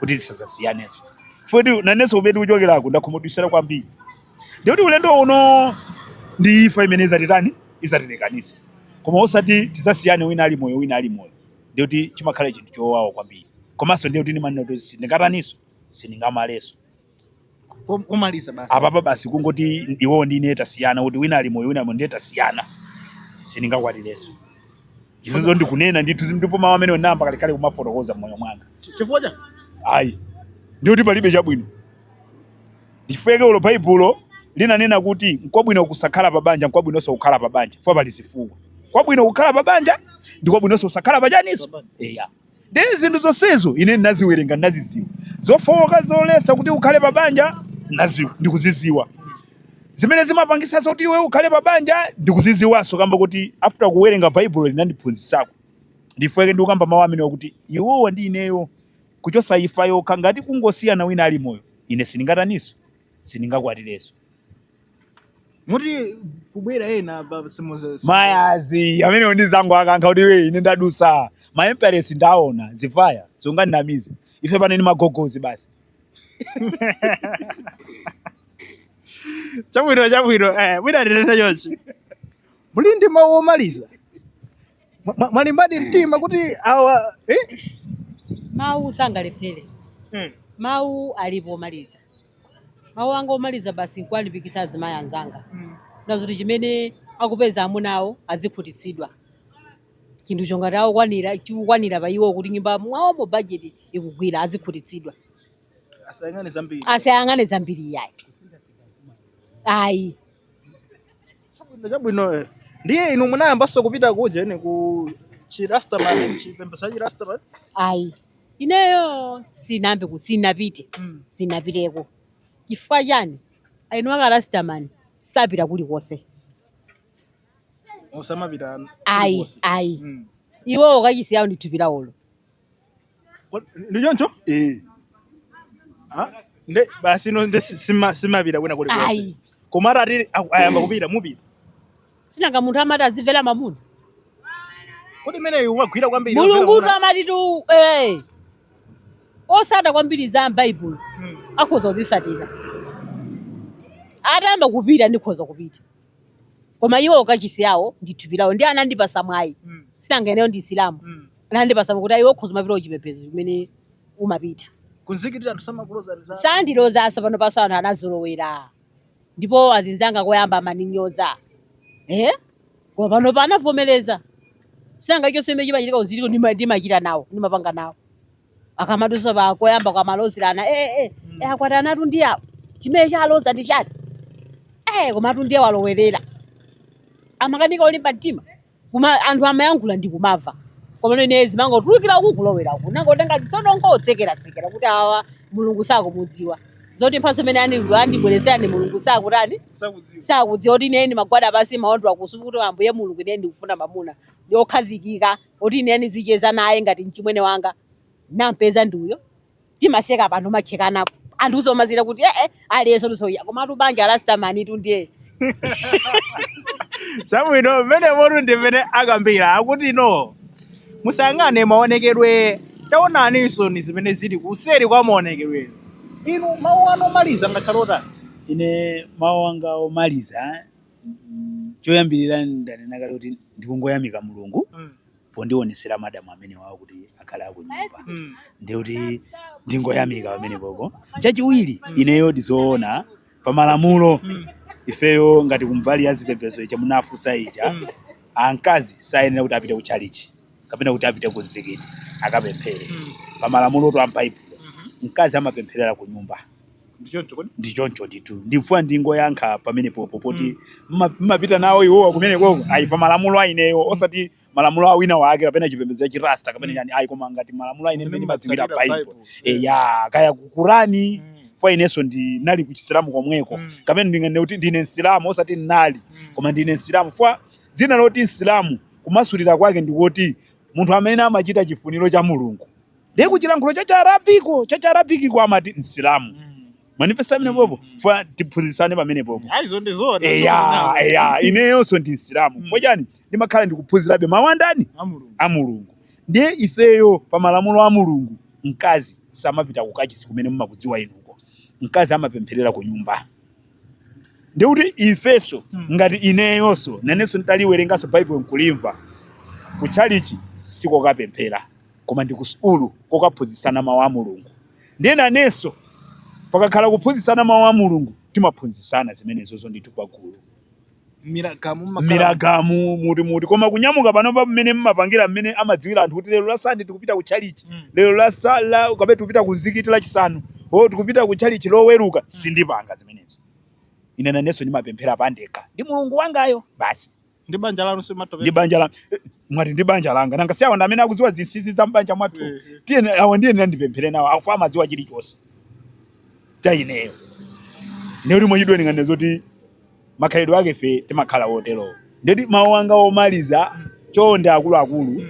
S2: kuti zisazasiyanenso futi nanenso kumene ndikuchokerako ndakhumudwitsidwa kwambiri ndiye kuti ulendo uno ndi imfa imene izatitani izatilekanise koma osati tizasiyane wina ali moyo wina ali moyo ndiye kuti chimakhala chinthu chowawa kwambiri komanso ndiye kuti ndimanena kuti sindingataniso sindingamaleso Kom-
S1: kumaliza basi apapa basi
S2: kungoti iwo ndi ine tasiyana kuti wina ali moyo wina ali moyo ndiye tasiyana sindingakwatireso izozo ndikunena ndithu ndipo mawu amene onamba kalekale kumafotokoza mmoyo mwanga chifukwa
S1: ayi
S2: ndiye kuti palibe chabwino Ndichifukwa chake olo baibulo linanena kuti nkwabwino kusakhala pa banja nkwabwinonso kukhala pa banja chifukwa pali zifukwa. Nkwabwino kukhala pa banja ndi kwabwinonso kusakhala pa chaninso. Eya. Ndiye zinthu zonsezo ine ndinaziwerenga ndinazidziwa. Zofowoka zoletsa kuti ukhale pa banja ndinaziwa ndikuzidziwa. Zimene zimapangitsa zoti iwe ukhale pa banja ndikuzidziwanso kamba kuti after kuwerenga baibulo linandiphunzitsako. Ndichifukwa chake ndikukamba mawu amenewa kuti iwowa ndi ineyo Kuchotsa imfa yokha, ngati kungosiyana wina ali moyo, ine sindingataninso?
S1: sindingakwatirenso. Muti kubwera ena apa simuze. Mayazi
S2: amenewo ndizangoakankha kuti iwe ine ndadusa ma emperors ndaona zivaya sungandinamize ife pano ni magogozi
S1: basi Chabwino chabwino. Eh, mwina tinene chonchi. Muli ndi mawu omaliza. Mwa- mwa- Mwalimbadi mtima kuti
S3: awa eh? mawu sangalephere Mm. mawu alipo omaliza mawu anga omaliza basi nkuwalimbikitsa azimayi anzanga Mm. nazoti chimene akupeza amuna awo azikhutitsidwa chinthu chongati akukwanira chikukwanira pa iwo kuti nyumba mwawomo bajeti ikugwira azikhutitsidwa Asayang'ane zambiri. asayang'ane zambiri iyayi ayi Chabwino
S1: chabwino. eh. Ndiye inu munayambanso kupita kuja ine ku chirastaman chipembedzo cha chirastaman. ayi
S3: ineyo sinambe ku sinapite Mm. sinapiteko chifukwa chani aini akarasitamani sapita
S1: kulikonse Osamapita. ayi ayi Mm.
S3: iwowo kachisi wawo ndi thupi lawolo Kod-
S1: ndi choncho eh nde basi ino nde si- sima- simapita kwina kulikonse ayi koma atati
S3: aku-
S1: ayamba kupita mupita sinanga
S3: munthu amati azimvera mamuna
S1: kodi imeneyo umagwira kwambiri mulungu amati
S3: tu eh, osata kwambiri za m'baibulo Mm. akhoza kuzisatira atayamba kupita ndikhoza kupita koma iwo kachisi yawo ndi thupi lawo ndiye anandipasa mwayi Mm. sinanga ineyo ndi msilamu Mm. anandipasa kuti ayi iwe ukhoza kumapita kuchipembedzo chimene umapita Kumzikiti anthu
S1: samakulozani zala. sandiloza zala panopanso
S3: anthu anazolowera ndipo azinzanga koyamba amaninyoza eh? koma panopa anavomereza sinanga chonse chimene chimachitika kumzikitiko ndimachita nawo ndimapanga nawo akamadutsa pa koyamba kwamalozerana eh, eh, Mm. eh, akwati anatu ndi awo chimene chaloza ndi chani eh, komatu ndiye walowerera amakanika olimba mtima kuma anthu amayankhula ndimakumva komano ine zimangotulukira uku kulowera uku nangotenga zisonongo nkutsekeratsekera kuti awa mulungu sakumudziwa zoti mphatso imene andilu andibweretsera ndi mulungu sakutani sakudziwa sakudziwa kuti ine ndimagwada pansi maondo akusupu kuti ambuye mulungu ine ndikufuna mamuna wokhazikika oti ineyo nizicheza naye ngati mchimwene wanga nampeza ndi uyo timaseka pano mochekana ndipo anthu kudzomasirira kuti ee aliyense lusoya komatu banja la lasitamani tu ndiye
S1: chabwino mmenemotu ndi mmene akambira akuti no musangane maonekedwe taonaninsoni zimene zili kuseri kwa maonekedwe inu mawu anu omaliza angakhale otani ine
S2: mawu anga omaliza choyambirira ndanena kale kuti ndikungoyamika mulungu Mm. pondionetsera madamu amenewawo kuti akhale akunyumba Mm. ndiye kuti ndingoyamika pamenepopo chachiwiri ineyo ndizoona pamalamulo Mm. ifeyo ngati kumbali ya zipembedzo ija munafunsa ija Mm. ankazi sayenera kuti apite ku chalichi kapena kuti apite ku mzikiti akapemphere Mm. pa malamulotu a m'baibulo Mhm. mkazi amapempherera ku nyumba Ndi choncho kodi. ndi choncho ndithu ndifuna ndingoyankha pamenepopo poti mma- mmapita nawo iwowa kumenekoko ayi pa malamulo a ineyo osati malamulo a wina wake kapena chipembedzo cha chirasta kapena Mm. chani ayi koma ngati malamulo a ine mmene ndimadziwira baibulo eya kaya kukorani Mm. fwa inenso ndinali ku chisilamu komweko Mm. kapena ndinganene kuti ndine msilamu osati ndinali Mm. koma ndine msilamu fwa dzina loti msilamu Kumasulira kwake ndi kuti, Munthu amene amachita chifuniro cha Mulungu. Ndiye ku chilankhulo cha Chiarabiko, cha Chiarabikiko amati Msilamu. Mm. Mundimvetse amene Mm, popo, mm. funa tiphunzitsane pamenepopo. Ayi izo ndi zoona. Eya,
S1: eya,
S2: ineyonso ndi Msilamu. Mm. Fwa chani, ndimakhala ndikuphunzirabe mawu a ndani? A mulungu. a mulungu ndiye ifeyo pa malamulo a mulungu mkazi samapita kukachisi kumene mumakudziwa inuko mkazi amapempherera ku nyumba ndikuti ifeso hmm. ngati ineyoso naneso nditaliwerengaso baibulo nkulimva kuchalichi sikokapemphera koma ndi kusukulu kokaphunzitsana mawu a mulungu ndiye naneso pakakhala kuphunzitsana mawu a mulungu timaphunzitsana zimenezozo ndithu pagulu Miragamu mumakhala miragamu muti muti koma kunyamuka pano pa mmene mmapangira mmene amadziwira anthu kuti lero la sande tikupita ku chalichi Mm. lero la sala kapena tikupita ku mzikiti la chisanu o tikupita ku chalichi loweruka sindipanga zimenezo ine nanenso ndimapemphera pandekha ndi mulungu wangayo basi ndi banja lanu
S1: ndi simatopera banja
S2: la eh, mwati ndi banja langa nanga si awa ndi amene akudziwa zinsinsi za mbanja mwathu tiye awa ndiye ndizipemphera nawo chifukwa amadziwa chilichonse cha ineyo ne kuti mwachidule ndinganene zoti makhalidwe ake ife timakhala woterowo ndeti mawu anga omaliza chonde akuluakulu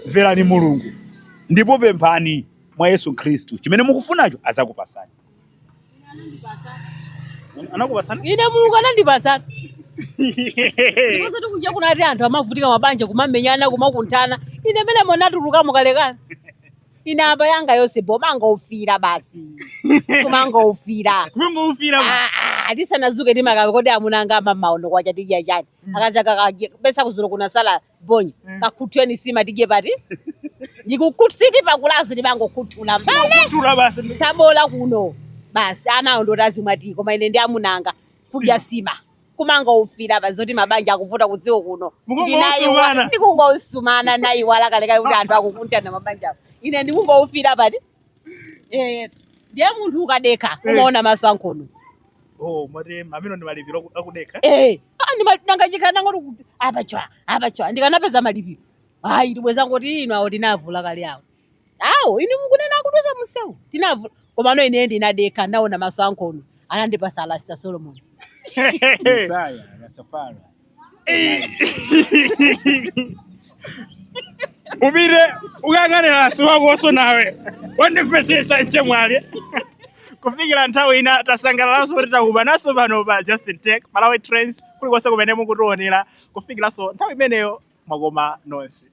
S2: mverani mulungu ndipo pemphani mwa yesu khristu chimene mukufunacho adzakupasani
S1: anakupasani ine mulungu
S3: anandipasatu ndiponso zoti kunja kuno ati anthu amavutika mabanja kumamenyana kumakunthana ine mene ndinatulukamo kalekale ine apa yanga yonse bola kumangoufira basi kumangoufira
S1: kungoufira Ah, ah, tisanadzuke
S3: timakamba kodi amuna anga mmamawa uno kwacha tidya chani Mm. akazi akakadye pesa kuzulo kunatsala bonya Mm. kakhuthuleni sima tidye pati ndikukutsiti pakulazi ndimangokhuthula mbale kutula basi
S1: sabola kuno
S3: basi ana awo ndoti azimwa tiyi koma ine ndi amuna anga kudya sima kumangoufira pa zoti mabanja akuvuta kudziko kuno Mukungousumana. ndikungousumana nayiwala kalekale kuti anthu akukunthana mabanja ine ndikungoufira pati Eh, ndiye munthu ukadekha Eh. umaona maso ankhono oh
S1: mwati amenewo ndi malipiro aku- akudekha Eh, ah, ndima- ndikanakhala
S3: ndikungoti kuti apa chwa apa chwa ndikanapeza malipiro ayi ndi bwenzi mukuti inu awo tinavula kale awo awo inu mukunena akudutsa mumsewu tinavula komano ine ndinadekha ndinaona maso ankhono anandipasa a Rasta solomon
S2: Messiah, Rastafari.
S1: upite ukangane rasi wakoso nawe wandipwetekesa mchemwali kufikira nthawi ina tidzasangalalanso kuti tidzakumananso pano pa justin tech malawi trends kulikonse kumene mukutionera kufikiranso nthawi imeneyo mwakoma nonse